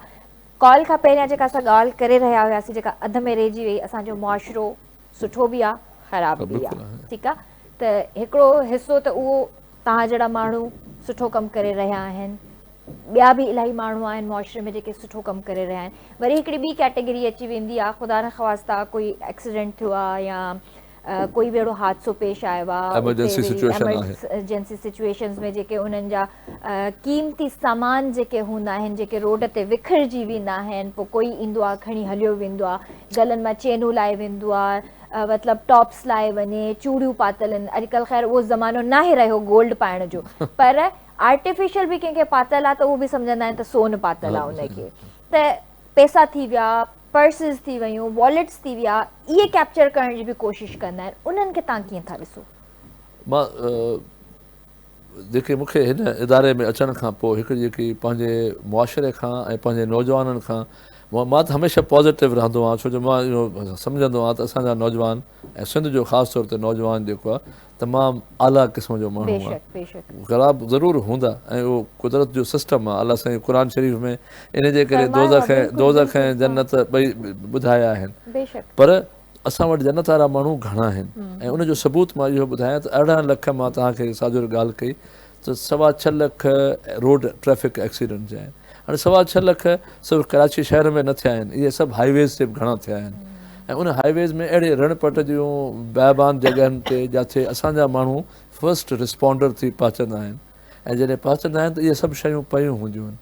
ڪال کان پهريان جيڪا اسان ڳالهه ڪري رهيا هياسي جيڪا اڌ ۾ رهجي وئي اسان جو معاشرو سٺو به آ خراب به آ ٺيڪ آ ته هڪڙو حصو ته اهو تان جهڙا ماڻهو سٺو ڪم ڪري رهيا آهن ٻيا به الاهي ماڻهو آهن معاشري ۾ جيڪي سٺو ڪم ڪري رهيا آهن وري هڪڙي ٻي ڪيٽيگري اچي ويندي آ خدا نه خواستان ڪوئي ايڪسيڊنٽ ٿيو آ يا ڪوئي به اهڙو حادثو پيش آيو آهي ايمرجنسي سچوئيشن آهي ايمرجنسي سچوئيشنز ۾ جيڪي انهن جا قيمتي سامان جيڪي هوندا آهن جيڪي روڊ تي وکرجي ويندا آهن پوء ڪوئي ايندو آهي کڻي هليو ويندو آهي گلن مان چينون لائي ويندو آهي مطلب ٽاپس لائي وڃي چوڙيون پاتل آهن اڄڪلهه خير اهو زمانو ناهي رهيو گولڊ پائڻ جو پر آرٽيفيشل به ڪنهن کي پاتل آهي ته اهو به سمجهندا آهن ته سون پاتل آهي ان کي ته پئسا ٿي ويا پرسز ٿي ويون، واليٽس ٿي ويا، اهي ڪيپچر ڪرڻ جي به ڪوشش ڪندا آهن، انهن کي تان ڪيئن ٿا ڏسو؟ مان جيڪي مون کي هن اداري ۾ اچڻ کان پوء هڪ جيڪي پنهنجي معاشري کان ۽ پنهنجي نوجوانن کان مان ته هميشه پازيٽو رهندو آهيان ڇو جو مان اهو سمجهندو آهيان ته اسان جا نوجوان ۽ سنڌ جو خاص طور تي نوجوان جيڪو آهي تمام اعليٰ قسم جو ماڻهو آ. بيشڪ بيشڪ. غلاب ضرور هوندا ۽ اهو قدرت جو سسٽم آ الله سائين قرآن شريف ۾ ان جي ڪري دوزخ ۽ دوزخ ۽ جنت ٻئي ٻڌايا آهن پر اسان وٽ جنت وارا ماڻهو گهڻا آهن ۽ ان جو ثبوت مان اهو ٻڌايان ته ارڙهن لک مان توهان کي ساجر ڳالهه ڪئي ته سوا ڇهه لک روڊ ٽريفڪ ايڪسيڊنٽ جي آهن هاڻي سوا ڇهه لک صرف ڪراچي شهر ۾ نه ٿيا آهن اهي سڀ هاء ويز تي به گهڻا ٿيا آهن ۽ ان هاء ويز ۾ اهڙي رڻ پٽ جون بيابان جڳهن تي جاٿي اسان جا ماڻهو فرسٽ رسپونڊر ٿي پهچندا آهن ۽ جڏهن پهچندا آهن ته اهي سڀ شيون پيون هونديون آهن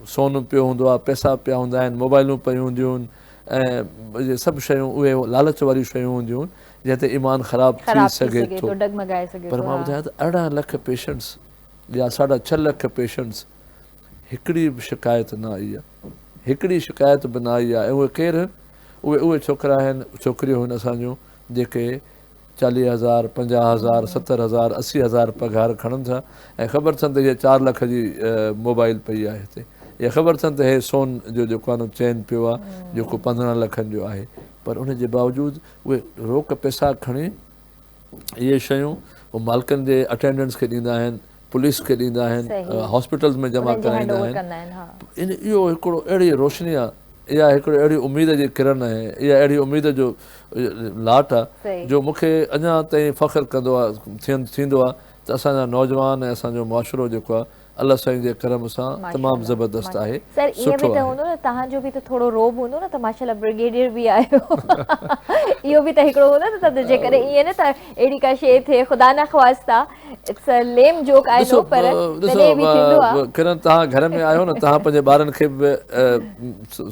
سون پيو هوندو آهي، پئسا پيا هوندا آهن، موبائلون پيون هونديون آهن ۽ اهي سڀ شيون اهي لالچ واريون شيون هونديون آهن جنهن تي ايمان خراب ٿي سگهي ٿو پر مان ٻڌايان ته ارڙهن لک پيشنٽس يا ساڍا ڇهه لک پيشنٽس هڪڙي به شڪايت نه آئي آهي هڪڙي شڪايت به نه آئي آهي ۽ اهي ڪير آهن اهي اهي ڇوڪرا آهن ڇوڪريون آهن اسان جون جيڪي چاليهه هزار، پنجاهه هزار، ستر هزار، اسي هزار پگهار کڻن ٿا ۽ خبر اٿن ته اها چار لک جي موبائل پئي آهي هتي. يا خبر اٿن ته هي سون جو جيڪو آنو چين پيو آهي جيڪو پندرهن لکن جو آهي پر ان جي باوجود اهي روڪ پئسا کڻي اهي شيون مالڪن جي اٽينڊنٽس کي ڏيندا آهن پوليس کي ڏيندا آهن، هاسپيٽلز ۾ جمع ڪرائيندا آهن، اهو هڪڙو اهڙي روشني آهي، اها هڪڙي اهڙي اميد جي ڪرڻ آهي، اها اهڙي اميد جو لاٽ آهي، جو مون کي اڃا تائين فخر ڪندو آهي، ٿيندو آهي ته اسان جا نوجوان ۽ اسان جو معاشرو جيڪو آهي، الله سائين جي ڪرم سان تمام زبردست آهي، سٺو آهي. اٽس ا ليم جوڪ آئي نو پر تڏهن به ٿيندو آ. ڏسو ڪرن توهان گهر ۾ آهيو نه توهان پنهنجي ٻارن کي به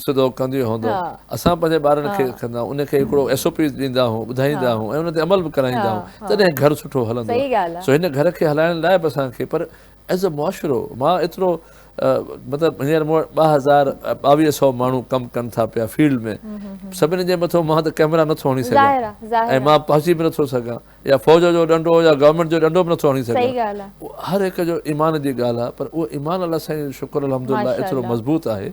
سڌو ڪنديون هوندو اسان پنهنجي ٻارن کي ڪندا آهيون ان کي هڪڙو ايس او پيز ڏيندا آهيون ٻڌائيندا آهيون ۽ ان تي عمل به ڪرائيندا آهيون تڏهن گهر سٺو هلندو سو هن گهر کي هلائڻ لاء به اسان کي پر ايز ا معاشرو مان ايترو مطلب هينئر مون وٽ ٻه هزار ٻاويهه سئو ماڻهو ڪم ڪن ٿا پيا فيلڊ ۾ سڀني جي مٿو مان ته ڪيمرا نٿو هڻي سگهان ۽ مان پهچي به نٿو سگهان يا فوج جو ڏنڊو يا گورنمينٽ جو ڏنڊو به نٿو هڻي سگهان صحيح ڳالهه آ. اهو هر هڪ جو ايمان جي ڳالهه آ پر اهو ايمان الله سائين جو شڪر الحمدالله ماشاء ايترو الله. مضبوط آهي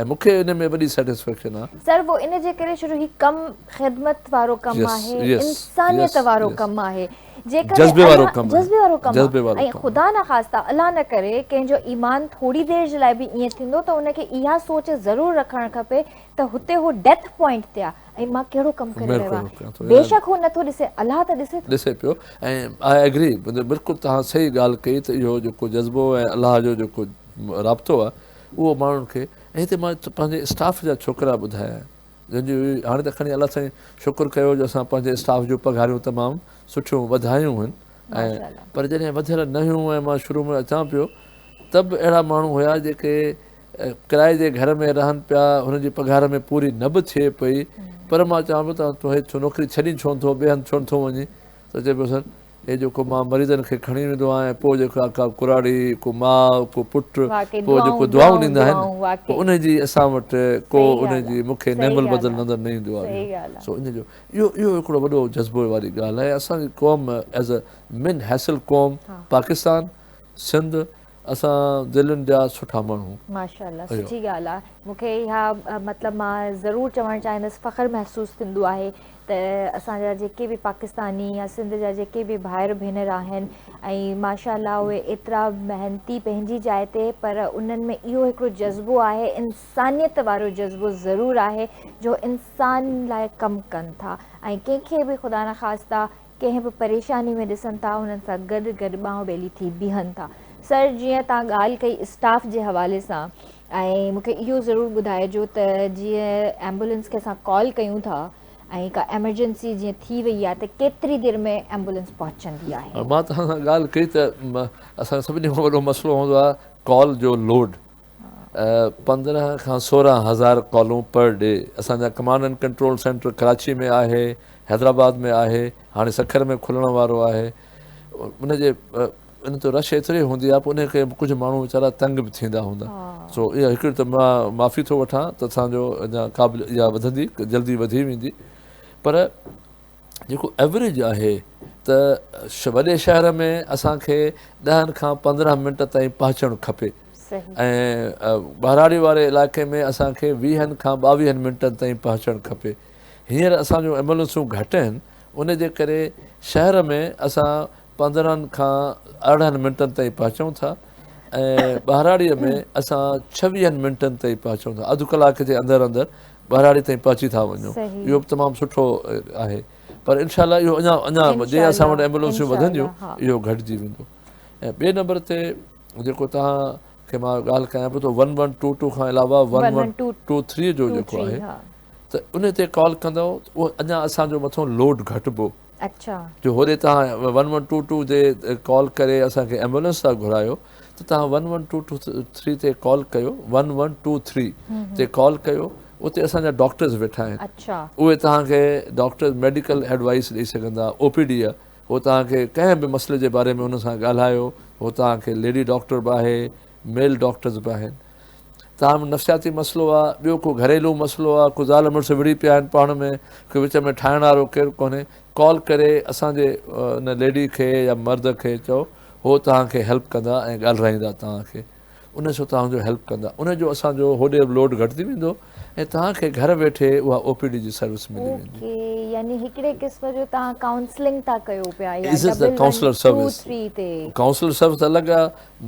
۽ مون کي ان ۾ وڏي سيٽسفيڪشن آ. سر پوء ان جي ڪري شروع هي ڪم خدمت وارو ڪم Yes آهي Yes انسانيت Yes وارو Yes ڪم آهي جيڪڏهن جذبي وارو الله ڪم آهي جذبي وارو ڪم آ جذبي وارو ۽ ڪم آهي. خدا نه خاسته الله نه ڪري ڪنهن جو ايمان ٿوري دير جي لاء به ائين ٿيندو ته ان کي اها سوچ ضرور رکڻ کپي ته هتي هو ڊيٿ پوائنٽ تي آ ۽ مان ڪهڙو ڪم ڪري رهيو آهيان بيشڪ هو نٿو ڏسي الله ته ڏسي ٿو ڏسي پيو ۽ آء اگري بلڪل تهان صحيح ڳالهه ڪئي ته اهو جيڪو جذبو ۽ الله جو جيڪو رابطو آهي اهو ماڻهن کي ۽ هتي مان پنهنجي اسٽاف جا ڇوڪرا ٻڌايا جن جي هاڻي ته کڻي الله سائين شڪر ڪيو جو اسان پنهنجي اسٽاف جون پگهاريون تمام سٺيون وڌايون هن ۽ پر جڏهن وڌيل نه هيون ۽ مان شروع ۾ اچان پيو ته به اهڙا ماڻهو هيا جيڪي ڪرائي جي گهر ۾ رهن پيا هن جي پگهار ۾ پوري نه به ٿئي پئي پر مان چوان پيو ته تون هيٺ نوڪري ڇڏي ڇو نٿو ٻئي هنڌ ڇو نٿو وڃين ته چئي پيو سر هي جيڪو مان مريضن کي کڻي ويندو آهيان پوء جيڪا ڪا ڪراڙي ڪو ماء ڪو پٽ پوء جيڪو دعائون ڏيندا آهن پوء ان جي اسان وٽ ڪو ان جي مون کي نعم البدل نظر نه ايندو آهي سو ان جو اهو اهو هڪڙو وڏو جذبو واري ڳالهه آهي اسان جي قوم ايز اي مين حيثل قوم پاڪستان سنڌ اسان دلين جا سٺا ماڻهو. ماشاء الله سٺي ڳالهه آ مون کي اها مطلب مان ضرور چوڻ چاهيندس فخر محسوس ٿيندو آهي ته اسان جا جيڪي به پاڪستاني يا سنڌ جا جيڪي به ڀائر ڀينر آهن ۽ ماشاء الله اهي ايترا محنتي پنهنجي جاء تي پر انهن ۾ اهو هڪڙو جذبو آهي انسانيت وارو جذبو ضرور آهي جو انسان لاء ڪم ڪن ٿا ۽ ڪنهن کي به خدا نخواسته ڪنهن به پريشاني ۾ ڏسن ٿا انهن سان گڏ گڏ ٻانهن ٻيلي ٿي بيهن ٿا سر جيئن توهان ڳالهه ڪئي اسٽاف جي حوالي سان ۽ مون کي اهو ضرور ٻڌائجو ته جيئن ايمبولنس کي اسان ڪال ڪيون ٿا ۽ ڪا ايمرجنسي جيئن ٿي وئي آهي ته ڪيتري دير ۾ ايمبولنس پهچندي آهي مان توهان سان ڳالهه ڪئي ته اسان جو سڀني کان وڏو مسئلو هوندو آهي ڪال جو لوڊ پندرهن کان سورهن هزار ڪالون پر ڊي اسان جا command and control centre Karachi ۾ آهي حيدرآباد ۾ آهي هاڻي سکر ۾ کلڻ وارو آهي ان جي ان تي رش ايتري هوندي آهي پوء ان کي ڪجهه ماڻهو ويچارا تنگ به ٿيندا هوندا سو اها هڪڙي ته مان معافي ٿو وٺان ته اسان جو اڃا قابل اها وڌندي جلدي وڌي ويندي پر جيڪو ايوريج آهي ته وڏي شهر ۾ اسان کي ڏهن کان پندرهن منٽ تائين پهچڻ کپي ۽ ٻهراڙي واري علاقي ۾ اسان کي ويهن کان ٻاويهن منٽن تائين پهچڻ کپي هينئر اسان جون ايمبولنسون گهٽ آهن ان جي ڪري شهر ۾ اسان پندرهن کان ارڙهن منٽن تائين پهچون ٿا ۽ ٻهراڙيء ۾ اسان ڇويهن منٽن تائين پهچون ٿا اڌ ڪلاڪ جي اندر اندر ٻهراڙي تائين پهچي ٿا وڃون اهو به تمام سٺو آهي پر انشاء الله اهو اڃا اڃا جي اسان وٽ ايمبولنسيون وڌنديون اهو گهٽجي ويندو ۽ ٻئي نمبر تي جيڪو توهان کي مان ڳالهه ڪيان پيو ٿو ون ون ٽو ٽو کان علاوه ون ون ٽو ٿري جو جيڪو آهي ته ان تي ڪال ڪندو اهو اڃا اسانجو مٿو لوڊ گهٽبو اڇا. جو هوڏي توهان ون ون ٽو ٽو تي ڪال ڪري اسان کي ايمبولينس ٿا گهرايو ته توهان one one two two three تي ڪال ڪيو ون ون ٽو ٿري تي ڪال ڪيو اتي اسان جا ڊاڪٽرز ويٺا آهن اڇا. اهي توهان کي ڊاڪٽرز ميڊيڪل ايڊوائيس ڏئي سگهندا او پي ڊي هو توهان کي ڪنهن به مسئلي جي باري ۾ ان سان ڳالهايو هو توهان کي ليڊي ڊاڪٽر به آهي ميل ڊاڪٽرز به آهن تاهم نفسياتي مسئلو آهي ٻيو ڪو گهريلو مسئلو آهي ڪو زال مڙس وڙهي پيا آهن پاڻ ۾ ڪو وچ ۾ ٺاهڻ وارو ڪير ڪونهي ڪال ڪري اسان جي ان ليڊي کي يا مرد کي چئو هو توهان کي هيلپ ڪندا ۽ ڳالهرائيندا توهان کي ان سو توهان جو هيلپ ڪندا ان جو اسان جو هوڏي لوڊ گهٽ ٿي ويندو ۽ توهان کي گهر ويٺي اها او پي ڊي جي سروس ملي ويندي. اوڪي يعني هڪڙي قسم جو توهان ڪائونسلنگ ٿا ڪيو پيا يا ڊبل ون ٽو ٿري تي. ڪائونسلر سروس الڳ آ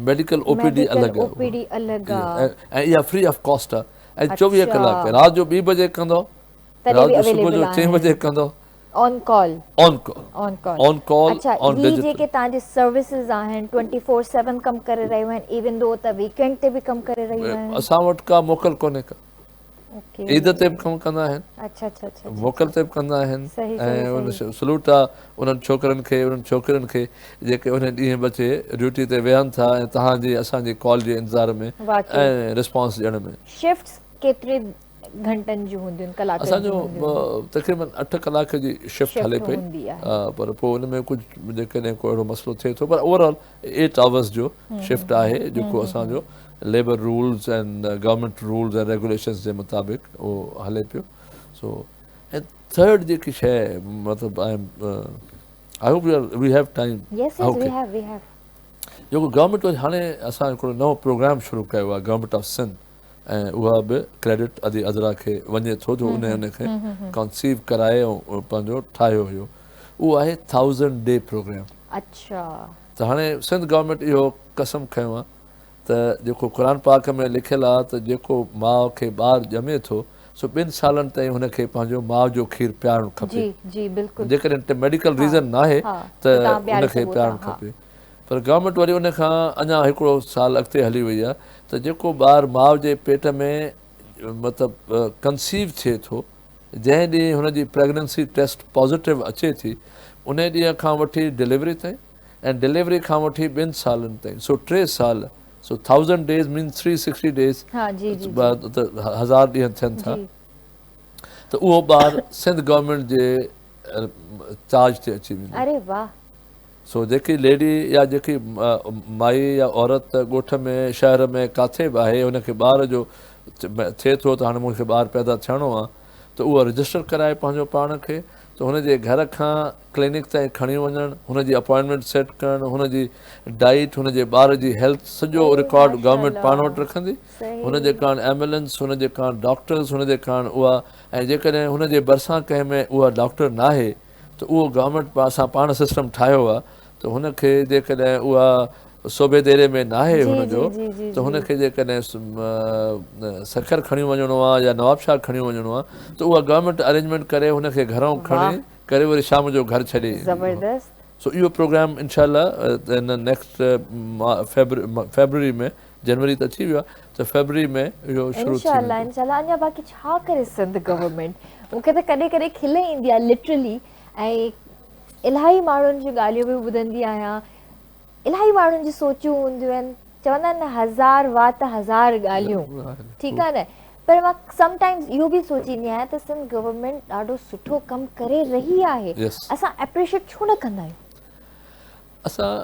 ميڊيڪل او پي ڊي الڳ آ ۽ اها فري آف ڪاسٽ آ ۽ چوويهه ڪلاڪ رات جو ٻي بجي ڪندو رات جو صبح جو چئين بجي ڪندو on call on call on call on call اڇا آن هي ڊجيٽل جيڪي تهان جي سروسز آهن ٽوئنٽي فور سيون ڪم ڪري رهيون آهن ايون دو ته ويڪينڊ تي به ڪم ڪري رهيون آهن اسان وٽ ڪا موڪل ڪونهي ڪا اوڪي عيد تي به ڪم ڪندا آهن اڇا اڇا اڇا موڪل تي به ڪندا آهن صحيح صحيح ۽ ان صحيح سلوٽ آ انهن ڇوڪرن کي انهن ڇوڪرين کي جيڪي انهي ڏينهن بچي ڊيوٽي تي ويهن ٿا ۽ تهان جي اسان جي ڪال جي انتظار ۾ واقعي ۽ رسپانس ڏيڻ ۾ شفٽس ڪيتري گهنٽن جون هونديون آهن، ڪلاڪن جون هونديون آهن. اسان جو تقريبن اٺ ڪلاڪ جي شفٽ هلي پئي پر پوء ان ۾ ڪجهه جيڪڏهن ڪو اهڙو مسئلو ٿئي ٿو پر اوور آل ايٽ آورس جو شفٽ آهي جيڪو اسان جو labour rules ۽ government rules ۽ regulations جي مطابق اهو هلي پيو سو ۽ ٿرڊ جيڪي شيء مطلب I am I hope we have time yes yes we have we have جيڪو گورنمينٽ هاڻي اسان هڪڙو نئون پروگرام شروع ڪيو آهي گورنمينٽ آف سنڌ ۽ اها به ڪريڊٽ ادي عذرا کي وڃي ٿو جو انهي ان کي ڪانسيو ڪرائي ۽ پنهنجو ٺاهيو هيو اهو آهي ٿائوزنڊ ڊي پروگرام اڇا ته هاڻي سنڌ گورنمينٽ اهو قسم کنيو آهي ته جيڪو قرآن پاڪ ۾ لکيل آهي ته جيڪو ماء کي ٻار ڄمي ٿو سو ٻن سالن تائين هن کي پنهنجو ماء جو کير پيارڻ کپي جيڪڏهن ميڊيڪل ريزن ناهي ته ان کي پيارڻ کپي پر گورنمينٽ وري ان کان اڃا هڪڙو سال اڳتي هلي وئي آهي ته جيڪو ٻار ماء جي پيٽ ۾ مطلب ڪنسيو ٿئي ٿو جنهن ڏينهن هن جي پريگننسي ٽيسٽ پازيٽو اچي ٿي انهي ڏينهن کان وٺي ڊليوري تائين ۽ ڊليوري کان وٺي ٻن سالن تائين سو ٽي سال so thousand days means three sixty days هزار ڏينهن ٿين ٿا ته اهو ٻار سنڌ گورنمينٽ جي چارج تي اچي ويندو سو جيڪي ليڊي يا جيڪي مائي يا عورت ڳوٺ ۾ شهر ۾ ڪاٿي به آهي ان کي ٻار جو ٿئي ٿو ته هاڻي مون کي ٻار پيدا ٿيڻو آ ته اهو رجسٽر ڪرائي پنهنجو پاڻ کي ته هن جي گهر کان ڪلينڪ تائين کڻي وڃڻ هن جي اپوائنٽمينٽ سيٽ ڪرڻ هن جي ڊائيٽ هن جي ٻار جي هيلٿ سڄو رڪارڊ گورنمينٽ پاڻ وٽ رکندي هن جي ڪارڻ ايمبولينس هن جي ڪارڻ ڊاڪٽرز هن جي ڪارڻ اها ۽ جيڪڏهن هن جي ڀرسان ڪنهن ۾ اها ڊاڪٽر ناهي ته اهو گورنمينٽ اسان پاڻ سسٽم ٺاهيو آهي ته هن کي جيڪڏهن اها صوبي ديري ۾ ناهي هن جو ته هن کي جيڪڏهن سکر کڻي وڃڻو آهي يا نواب شاهه کڻي وڃڻو آهي ته اها گورنمينٽ ارينجمينٽ ڪري هن کي گهرئون کڻي ڪري وري شام جو گهر ڇڏي زبردست سو اهو پروگرام انشاء الله نيڪسٽ فيبروري ۾ جنوري ته اچي ويو آ ته فيبروري ۾ اهو شروع ٿي ويندو. انشاء الله اڃا باقي ڇا ڪري سنڌ گورنمينٽ مون کي ته ڪڏهن ڪڏهن کل ايندي آهي لٽرلي ۽ الاهي ماڻهن جون ڳالهيون به ٻڌندي آهيان الاهي ماڻهن جون سوچون هونديون آهن چوندا آهن نه هزار وات هزار ڳالهيون ٺيڪ آهي نه پر مان سم ٽائمز اهو به سوچيندي آهيان ته سنڌ گورنمينٽ ڏاڍو سٺو ڪم ڪري رهي آهي اسان اپريشيٽ ڇو نه ڪندا آهيون اسان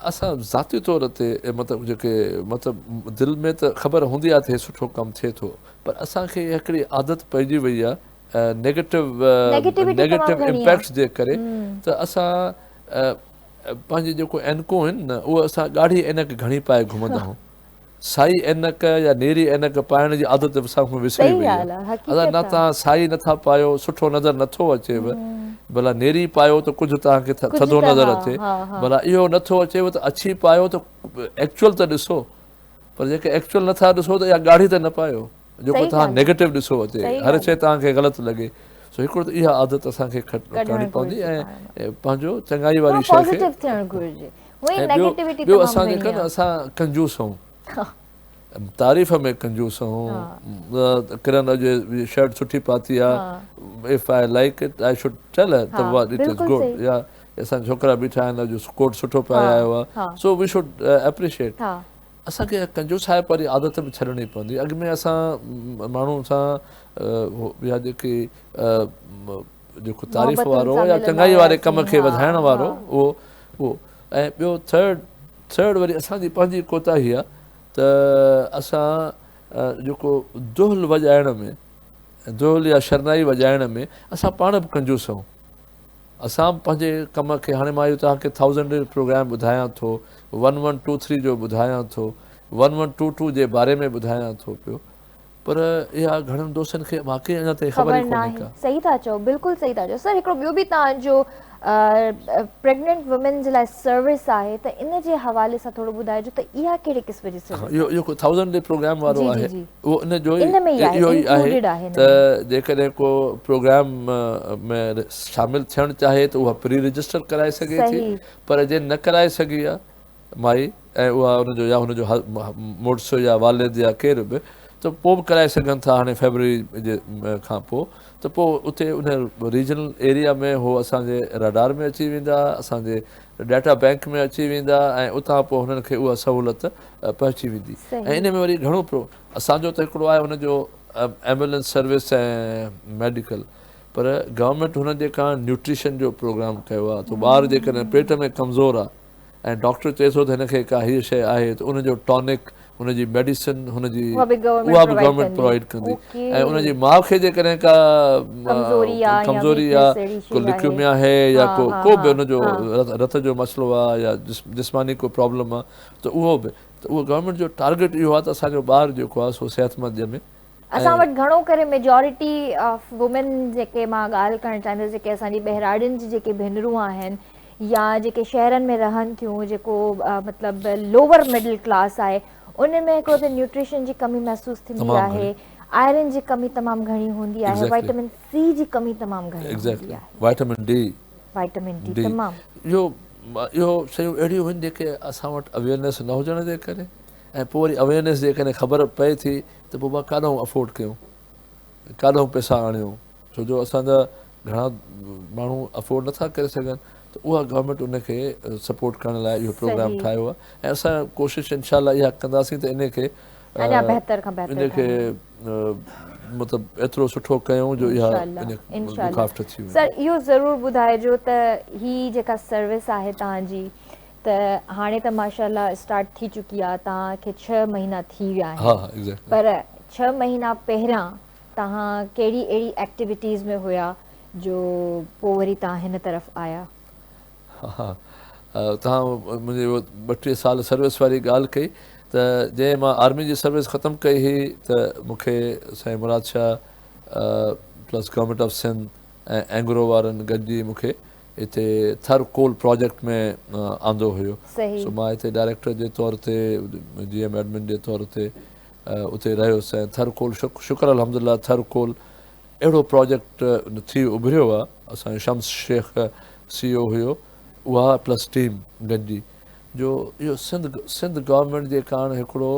اسان ذاتي طور تي مطلب جيڪي مطلب دل ۾ ته خبر هوندي آهي ته هي سٺو ڪم ٿئي ٿو پر اسان کي هڪڙي عادت پئجي وئي آهي نيگيٽو نيگيٽو امپيڪٽس جي ڪري ته اسان پنهنجي جيڪو عينڪون آهن نه اهو اسان ڳاڙهي عينڪ گهڻي پائي گهمندا آهيون سائي عينڪ يا نيري عينڪ پائڻ جي عادت به اسان کان وسري وئي آهي. ادا نه توهان سائي نه ٿا پايو، سٺو نظر نه ٿو اچيو. ڀلا نيري پايو ته ڪجهه توهان کي ٿڌو نظر اچي. ڀلا اهو نه ٿو اچيو ته اڇي پايو ته ايڪچوئل ته ڏسو. پر جيڪي ايڪچوئل نه ٿا ڏسو ته اها ڳاڙهي ته نه پايو جيڪو توهان نيگيٽو ڏسو اچي. هر شيء توهان کي غلط لڳي. سو هڪڙو ته اها عادت اسان کي کٽڻي پوندي ۽ پنهنجو چڱائي واري شيء کي. ۽ ٻيو ٻيو اسان جيڪا نه اسان ڪنجوس هئون تعريف ۾ ڪنجوس هئون ڪرن اڄ هي شرٽ سٺي پاتي آهي if I like it I should tell her ته واٽ اٽ از گڊ يا اسان جا ڇوڪرا بيٺا آهن اڄ ڪوٽ سٺو پائي آيو آهي سو وي شوڊ اپريشيئيٽ اسان کي ڪنجوسائپ واري عادت به ڇڏڻي پوندي اڳ ۾ اسان ماڻهو سان يا جيڪي جيڪو تعريف وارو يا چڱائي واري ڪم کي وڌائڻ وارو اهو اهو ۽ ٻيو ٿرڊ ٿرڊ وري اسان جي پنهنجي ڪوتاهي آهي ته اسان جيڪو دهل وڄائڻ ۾ دهل يا شرنائي وڄائڻ ۾ اسان پاڻ به ڪنجوس آهيون اسان به پنهنجي کم کي هاڻي مان اهو توهانکي ٿائوزنڊ ڊيز پروگرام ٻڌايان ٿو ون ون ٽو ٿري جو ٻڌايان ٿو ون ون ٽو ٽو جي باري ۾ ٻڌايان ٿو پيو پر اها گهڻن دوستن کي واقعي اڃا تائين خبر ئي ڪونهي ڪا. صحيح ٿا چئو بلڪل صحيح ٿا چئو سر هڪڙو ٻيو به توهان جو پريگننٽ وومين جي لاء سروس آهي ته ان جي حوالي سان ٿورو ٻڌائجو ته اها ڪهڙي قسم جي سروس آهي اهو ڪو ٿائوزنڊ ڊي پروگرام وارو آهي اهو ان جو ئي اهو ئي آهي ته جيڪڏهن ڪو پروگرام ۾ شامل ٿيڻ چاهي ته اها پري رجسٽر ڪرائي سگهي ٿي پر جنهن نه ڪرائي سگهي آهي مائي ۽ اها ان جو يا هن جو مڙس يا والد يا ڪير به ته پوء به ڪرائي سگهن ٿا هاڻي فيبروري جي کان پوء ته پوء اتي ان ريجنل ايريا ۾ هو اسان جي ريڊار ۾ اچي ويندا اسان جي ڊيٽا بينڪ ۾ اچي ويندا ۽ اتان پوء هنن کي اها سهولت پهچي ويندي ۽ ان ۾ وري گهڻو پرو اسان جو ته هڪڙو آهي ان جو ايمبولينس سروس ۽ ميڊيڪل پر گورنمينٽ هن جي ڪا نيوٽريشن جو پروگرام ڪيو آهي ته ٻار جيڪڏهن پيٽ ۾ ڪمزور آهي ۽ ڊاڪٽر چئي ٿو ته هن کي ڪا هيء شيء آهي ته ان جو ٽانڪ، ان جي ميڊيسن، هن جي اها به گورنمينٽ پرووائيڊ ڪندي ۽ ان جي ماء کي جيڪڏهن ڪا ڪمزوري آ، ڪو لڪيوميا آهي يا ڪو ڪو به ان جو رت جو مسئلو آ يا جسماني ڪو پرابلم آ ته اهو به ته اهو گورنمينٽ جو ٽارگيٽ اهو آ ته اسان جو ٻار جيڪو آ سو صحت مند ڄمي اسان وٽ گهڻو ڪري ميجارٽي آف وومين جيڪي مان ڳالهه ڪرڻ چاهيندس جيڪي اسان جي ٻهراڙين جي جيڪي ڀينرون آهن يا جيڪي شهرن ۾ رهن ٿيون جيڪو مطلب لوور مڊل ڪلاس آهي ان ۾ هڪڙو ته نيوٽريشن جي ڪمي محسوس ٿيندي آهي آئرن جي ڪمي تمام گهڻي هوندي آهي وائٽامن سي جي ڪمي تمام گهڻي هوندي آهي وائٽامن ڊي وائٽامن ڊي تمام اهو اهو شيون اهڙيون هن جيڪي اسان وٽ اويرنس نه هجڻ جي ڪري ۽ پوء وري اويرنس جي ڪري خبر پئي ٿي ته پوء مان ڪاڏانهن افورڊ ڪيون ۽ ڪاڏانهن پئسا آڻيون ڇو جو اسان جا گهڻا ماڻهو افورڊ نٿا ڪري سگهن ته اها گورنمينٽ ان کي سپورٽ ڪرڻ لاء اهو پروگرام ٺاهيو آهي ۽ اسان ڪوشش انشاء الله اها ڪنداسين ته ان کي اڃا بهتر کان بهتر ان کي مطلب ايترو سٺو ڪيون جو اها مخافت ٿي وڃي سر اهو ضرور ٻڌائجو ته هي جيڪا سروس آهي توهان جي ته هاڻي ته ماشاءالله اسٽارٽ ٿي چڪي آهي توهان کي ڇهه مهينا ٿي ويا آهن پر ڇهه مهينا پهريان توهان ڪهڙي اهڙي ايڪٽيوٽيز ۾ هيا جو پوء وري توهان هن طرف آيا ها توهان منهنجي ٻه ٽي سال سروس واري ڳالهه ڪئي ته جنهن مان آرمي جي سروس ختم ڪئي هئي ته مون کي سائين Murad Shah plus government of Sindh ۽ Engro وارن گڏجي مون کي هتي ٿر ڪول پراجيڪٽ ۾ آندو هيو سو مان هتي ڊائريڪٽر جي طور تي جي ايم ايڊمن جي طور تي اتي رهيس ۽ ٿر ڪول شڪر الحمد لله ٿر ڪول اهڙو پراجيڪٽ ٿي اڀريو آ اسان جو شمس شيخ سي او هيو اها پلس ٽيم گڏجي جو اهو سنڌ سنڌ گورنمينٽ جي ڪاڻ هڪڙو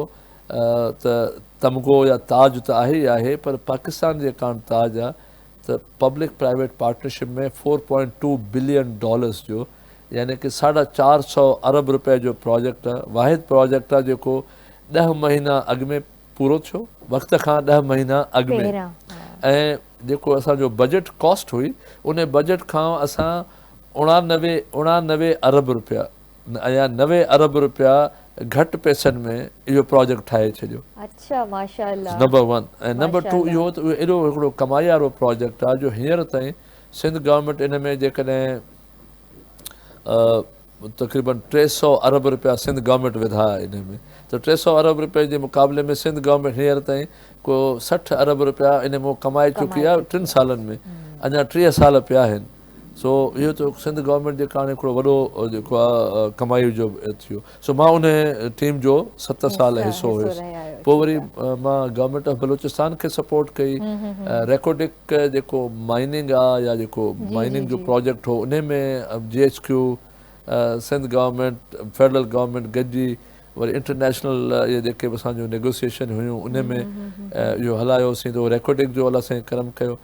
ته تمغو يا تاج ته آهي ئي آهي پر پاڪستان جي ڪاڻ تاج آ ته public private partnership ۾ four point two billion dollars جو يعني ڪه ساڍا چار سؤ ارب روپيه جو پراجيڪٽ واحد پراجيڪٽ آهي جيڪو ڏهه مهينا اڳ ۾ پورو ٿيو وقت کان ڏهه مهينا اڳ ۾ ۽ جيڪو اسان جو بجيٽ ڪاسٽ هئي ان بجيٽ کان اسان اڻانوي اڻانوي ارب روپيه ايا نوي ارب رپيا گهٽ پئسن ۾ اهو پراجيڪٽ ٺاهي ڇڏيو. اڇا ماشاء الله. نمبر ون ۽ نمبر ٽو اهو ته اهو ايڏو هڪڙو ڪمايارو پراجيڪٽ آهي جو هينئر تائين سنڌ گورنمينٽ ان ۾ جيڪڏهن تقريبن ٽي سؤ ارب رپيا سنڌ گورنمينٽ وڌا ان ۾ ته ٽي سؤ ارب رپين جي مقابلي ۾ سنڌ گورنمينٽ هينئر تائين ڪو سٺ ارب رپيا ان مون ڪمائي چڪي آهي ٽن سالن ۾ اڃا ٽيهه سال پيا آهن. سو اهو ته سنڌ گورنمينٽ جي ڪارڻ هڪڙو وڏو جيڪو آ ڪمائي جو ٿيو سو مان ان ٽيم جو ست سال حصو هيس پوء وري مان گورنمينٽ آف بلوچستان کي سپورٽ ڪئي ريڪوڊڪ جيڪو مائننگ آ يا جيڪو مائننگ جو پروجيڪٽ هو ان ۾ G H Q Sindh government federal government گڏجي وري انٽرنيشنل اهي جيڪي به اسان جون نيگوسيشن هيون ان ۾ اهو هلايو سين ته ريڪوڊڪ جو الله سائين ڪرم ڪيو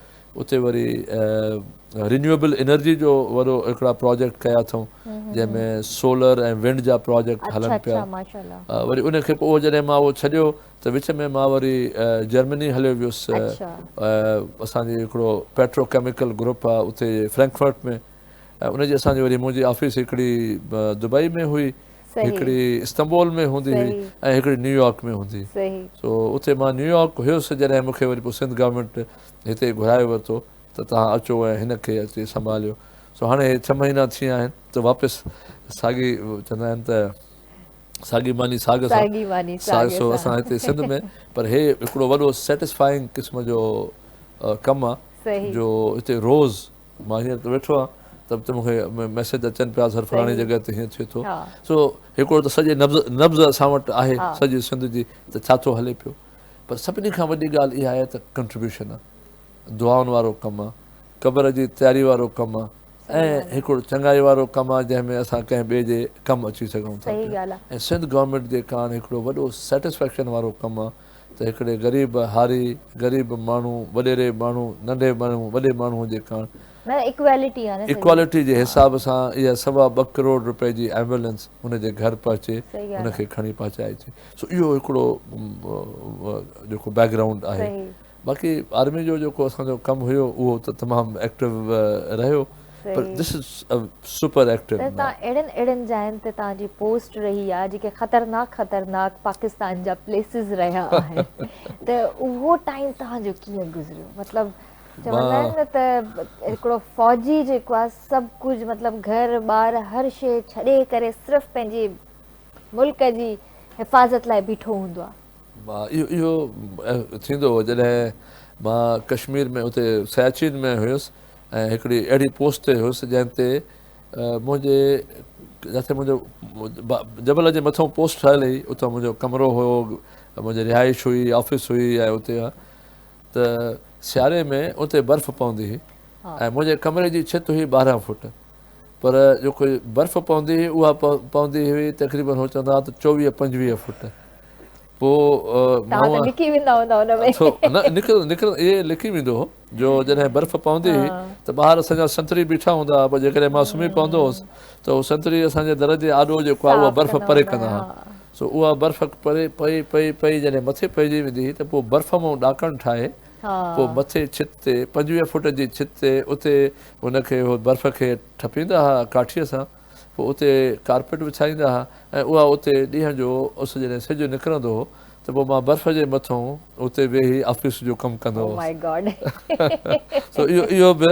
اتي وري رينيوئبل انرجي جو وڏو هڪڙا پراجيڪٽ ڪيا اٿئون جنهن ۾ سولر ۽ ونڊ جا پراجيڪٽ هلن پيا وري ان کي پوء جڏهن مان اهو ڇڏيو ته وچ ۾ مان وري جرمني هليو ويس اسان جي هڪڙو پيٽرو ڪيميڪل گروپ آهي اتي فرينڪفرٽ ۾ ۽ ان جي اسان جي وري منهنجي آفيس هڪڙي دبئي ۾ هئي هڪڙي استنبول ۾ هوندي هئي ۽ هڪڙي نيويارڪ ۾ هوندي هئي سو اتي مان نيويارڪ هيس جڏهن مون کي وري پوء سنڌ گورنمينٽ هتي گهرائي ورتو ته توهان اچو ۽ هن کي اچي سنڀاليو. سو هاڻي هي ڇهه مهينا ٿي ويا آهن ته واپس ساڳي چوندا آهن ته ساڳي ماني ساڳ سان ساڳ سو اسان هتي سنڌ ۾ پر هي هڪڙو وڏو سيٽسفائنگ قسم جو ڪم آهي جو هتي روز مان هينئر ته ويٺو آهيان ته ته مون کي ميسيج اچن پيا سر فلاڻي جڳهه تي هيئن ٿئي ٿو سو هڪڙو ته سڄي نبض نبض اسان وٽ آهي سڄي سنڌ جي ته ڇا ٿو هلي پيو. پر سڀني کان وڏي ڳالهه اها آهي ته ڪنٽريبيوشن، دعائن وارو ڪم، قبر جي تياري وارو ڪم ۽ هڪڙو چڱائي وارو ڪم آهي جنهن ۾ اسان ڪنهن ٻئي جي ڪم اچي سگهون ٿا پيا ۽ سنڌ گورنمينٽ جي ڪاڻ هڪڙو وڏو سيٽسفيڪشن وارو ڪم آهي ته هڪڙي غريب هاري، غريب ماڻهو، وڏيري ماڻهو، ننڍي ماڻهو، وڏي ماڻهو جي ڪاڻ ايڪوالٽي جي حساب سان اها سوا ٻه ڪروڙ روپئي جي ايمبولينس ان جي گهر پهچي ان کي کڻي پهچائجي. سو اهو هڪڙو جيڪو بيڪ گرائونڊ آهي باقي آرمي جو جيڪو اسان جو ڪم هيو اهو ته تمام ايڪٽو رهيو پر this is a super active ته تان اهڙن اهڙن جاين تي تان جي پوسٽ رهي آ جيڪي خطرناڪ خطرناڪ پاڪستان جا پليسز رهيا آهن ته اهو ٽائيم تان جو ڪيئن گذريو مطلب چوندا آهن نه ته هڪڙو فوجي جيڪو آ سڀ ڪجهه مطلب گهر ٻار هر شي ڇڏي ڪري صرف پنهنجي ملڪ جي حفاظت لاء بيٺو هوندو آهي. مان اهو اهو ٿيندو هو جڏهن مان ڪشمير ۾ اتي سياچين ۾ هيس ۽ هڪڙي اهڙي پوسٽ تي هيس جنهن تي منهنجي جتي منهنجو جبل جي مٿئون پوسٽ ٺهيل هئي اتي منهنجو ڪمرو هو منهنجي رهائش هئي آفيس هئي ۽ اتي ته سياري ۾ اتي برف پوندي هئي ۽ منهنجي ڪمري جي ڇت هئي ٻارهن فوٽ پر جيڪي برف پوندي هئي اها پوندي هئي تقريبن هو چوندا هئا ته چوويهه پنجويهه فوٽ پوء توهان ته لڪي ويندا هوندا ان ۾ نه نڪرندو نڪرندو اهي لڪي ويندو هو جو جڏهن برف پوندي هئي ته ٻاهر اسان جا سنتڙي بيٺا هوندا هئا پوء جيڪڏهن مان سمهي پوندو هوس ته هو سنتڙي اسان جي در جي آڏو جيڪو آهي اها برف پري ڪندا هئا سو اها برف پري پئي پئي پئي جڏهن مٿي پئجي ويندي هئي ته پوء برف مون ڏاڪڻ ٺاهي پوء مٿين ڇت تي، پنجويهه فوٽ جي ڇت تي، اتي هن کي اهو برف کي ٺپيندا ها ڪاٺيء سان، پوء اتي ڪارپيٽ وڇائيندا ها ۽ اها اتي ڏينهن جو اس جڏهن سج نڪرندو هو ته پوء مان برف جي مٿئون اتي ويهي آفيس جو ڪم ڪندو هوس. سو اهو به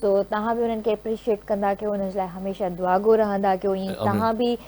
سو توهان به انهن کي اپريشيٽ ڪندا ڪيو انهن جي لاء هميشه دعاگو رهندا ڪيو ائين توهان به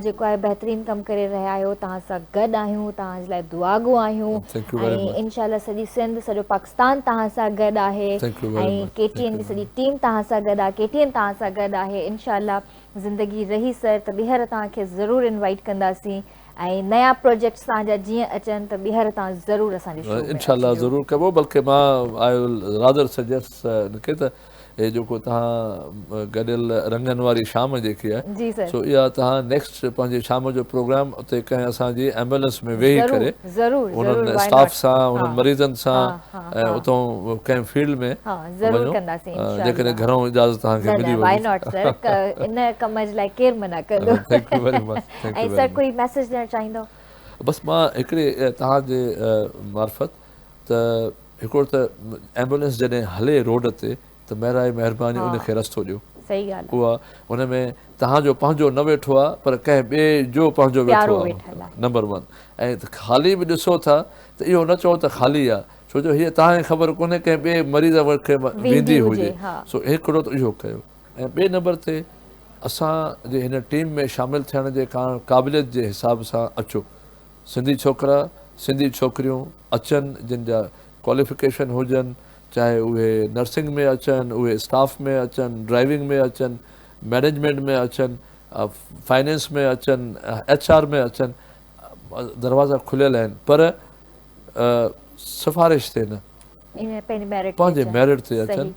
جيڪو آهي بهترين ڪم ڪري رهيا آهيو توهان سان گڏ آهيون توهان جي لاء دعاگو آهيون ۽ انشاء الله سڄي سنڌ سڄو پاڪستان توهان سان گڏ آهي ۽ ڪي ٽي اين جي سڄي ٽيم توهان سان گڏ آهي ڪي ٽي اين توهان سان گڏ آهي انشاء الله زندگي رهي سر ته ٻيهر توهان کي ضرور انوائيٽ ڪنداسين ۽ نيا پروجيڪٽس توهان جا جيئن اچن ته ٻيهر تان ضرور اسان جي شو ۾ انشاء الله ضرور ڪبو بلڪه مان آء ول راڌر سجيس ان کي ته هي جيڪو توهان گڏيل رنگن واري شام جيڪي آهي سو اها توهان نيڪسٽ پنهنجي شام جو پروگرام اتي ڪنهن اسان جي ايمبولنس ۾ ويهي ڪري انهن اسٽاف سان انهن مريضن سان اتون ڪنهن فيلڊ ۾ ضرور ڪنداسين جيڪڏهن گهرون اجازت توهان کي ملي وئي نه نه واء ناٽ سر ان ڪم جي لاء ڪير منع ڪندو thank you very much ۽ sir ڪوئي ميسيج ڏيڻ چاهيندو. بس مان هڪڙي توهان جي معرفت ته هڪڙو ته ايمبولينس جڏهن هلي روڊ تي ته مهراي مهرباني ان کي رستو ڏيو اها ان ۾ توهان جو پنهنجو نه ويٺو آهي پر ڪنهن ٻئي جو پنهنجو ويٺو آهي نمبر ون ۽ خالي به ڏسو ٿا ته اهو نه چئو ته خالي آهي ڇو جو هيء توهان کي خبر ڪونهي ڪنهن ٻئي مريض کي ويندي هجي سو هڪڙو ته اهو ڪيو. ۽ ٻئي نمبر تي اسان جي هن ٽيم ۾ شامل ٿيڻ جي ڪارڻ قابليت جي حساب سان اچو سنڌي ڇوڪرا سنڌي ڇوڪريون اچن جن جا ڪواليفڪيشن هجن چاهي اهي نرسنگ ۾ اچن اهي اسٽاف ۾ اچن ڊرائيونگ ۾ اچن مينيجمينٽ ۾ اچن فائنينس ۾ اچن ايڇ آر ۾ اچن دروازا کليل آهن پر سفارش تي نه پنهنجي ميرٽ تي اچن. پنهنجي ميرٽ تي اچن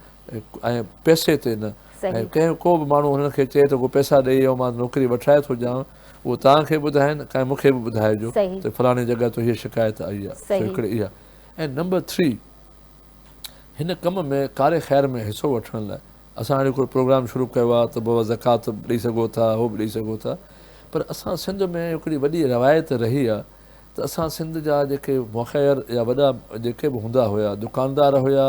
۽ پئسي تي نه. ۽ ڪنهن ڪو به ماڻهو هنن کي چئي ته ڪو پئسا ڏئي يا مان نوڪري وٺرائي ٿو ڏيانو اهو توهان کي ٻڌائين ۽ مون کي به ٻڌائجو ته فلاڻي جڳهه تان هيء شڪايت آئي آهي. سو هڪڙي اها. ۽ نمبر ٿري هن ڪم ۾ ڪاري خير ۾ حصو وٺڻ لاء اسان هاڻي هڪڙو پروگرام شروع ڪيو آهي ته بابا زڪوات به ڏئي سگهو ٿا هو به ڏئي سگهو ٿا پر اسان سنڌ ۾ هڪڙي وڏي روايت رهي آهي ته اسان سنڌ جا جيڪي مخير يا وڏا جيڪي به هوندا هيا دڪاندار هيا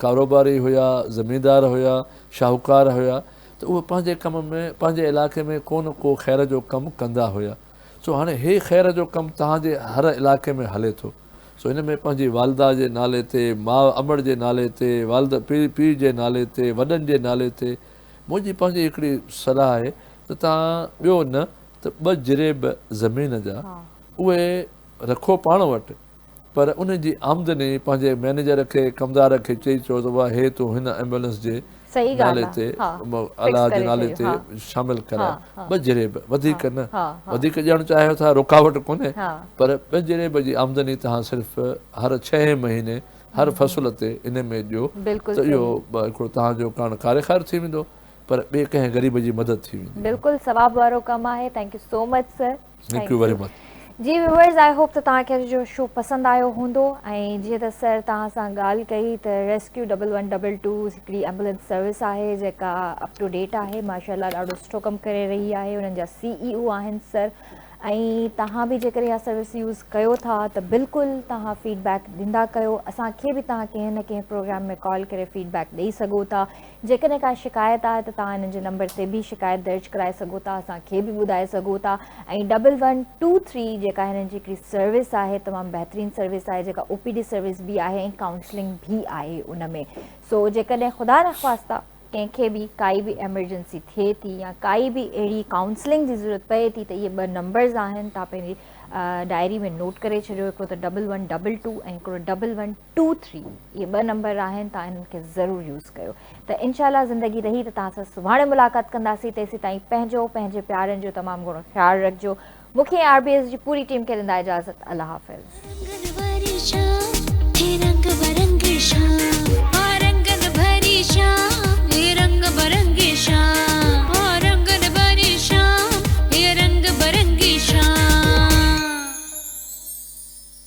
ڪاروباري هيا زميندار هيا شاهوڪار هيا ته اهي پنهنجي ڪم ۾ پنهنجي علائقي ۾ ڪو نه ڪو خير جو ڪم ڪندا هيا سو هاڻي هي خير جو ڪم توهان جي هر علائقي ۾ هلي ٿو سو ان ۾ پنهنجي والده جي نالي تي ماء امڙ جي نالي تي والد پيء جي نالي تي وڏن جي نالي تي منهنجي پنهنجي هڪڙي صلاح آهي ته توهان ٻيو نه ته ٻه جريب زمين جا اهي رکو پاڻ وٽ پر ان جي آمدني پنهنجي مئنيجر کي ڪمدار کي چئي چئو ته واهه هي تون هن ايمبولنس جي نالي تي الاء جي نالي تي شامل ڪراء ٻه جريب وڌيڪ نه وڌيڪ ڏيڻ چاهيو ٿا رڪاوٽ ڪونهي پر ٻه جريب جي آمدني توهان صرف هر ڇهين مهيني هر فصل تي ان ۾ ڏيو ته اهو هڪڙو توهان جو ڪاڻ ڪاري خير ٿي ويندو پر ٻئي ڪنهن غريب جي مدد ٿي ويندي آهي. بلڪل ثواب وارو ڪم آهي thank you so much sir. Thank you very much. جي ويورز آئي هوپ ته توهان کي اڄ جو شو پسند آيو هوندو ۽ جيئن ته سر توهان سان ڳالهه ڪئي ته rescue double one double two هڪڙي ايمبولينس سروس آهي جيڪا اپ ٽو ڊيٽ آهي ماشاء الله ڏاڍو سٺو ڪم ڪري رهي آهي انهن جا سي اي او آهن سر ۽ توهان به جيڪڏهن اها سروس يوز ڪيو ٿا ته بلڪل توهان فيڊ بيڪ ڏيندا ڪيو اسان کي به توهان ڪنهن نه ڪنهن پروگرام ۾ ڪال ڪري فيڊ بيڪ ڏئي سگهو ٿا جيڪڏهن ڪا شڪايت آهي ته توهان هن جي نمبر تي به شڪايت درج ڪرائي سگهو ٿا اسان کي به ٻڌائي سگهو ٿا ۽ ڊبل ون ٽو ٿري جيڪا هنن جي هڪڙي سروس آهي تمام بهترين سروس آهي جيڪا او پي ڊي سروس به آهي ۽ ڪائونسلنگ به آهي ان ۾ سو جيڪڏهن خدا نخواسته ڪنهن کي به ڪائي به ايمرجنسي ٿئي ٿي يا ڪائي به اهڙي ڪائونسلنگ جي ضرورت پئي ٿي ته اهي ٻه نمبرز آهن تان پنهنجي ڊائري ۾ نوٽ ڪري ڇڏيو هڪڙو ته ڊبل ون ڊبل ٽو ۽ هڪڙو ڊبل ون ٽو ٿري اهي ٻه نمبر آهن توهان انهن کي ضرور يوز ڪيو ته انشاء الله زندگي رهي ته توهان سان سڀاڻي ملاقات ڪنداسين تيسيتائين پنهنجو پنهنجي پيارن جو تمام گهڻو خيال رکجو مون کي ۽ آر بي ايس جي پوري ٽيم کي ڏيندا اجازت الله حافظ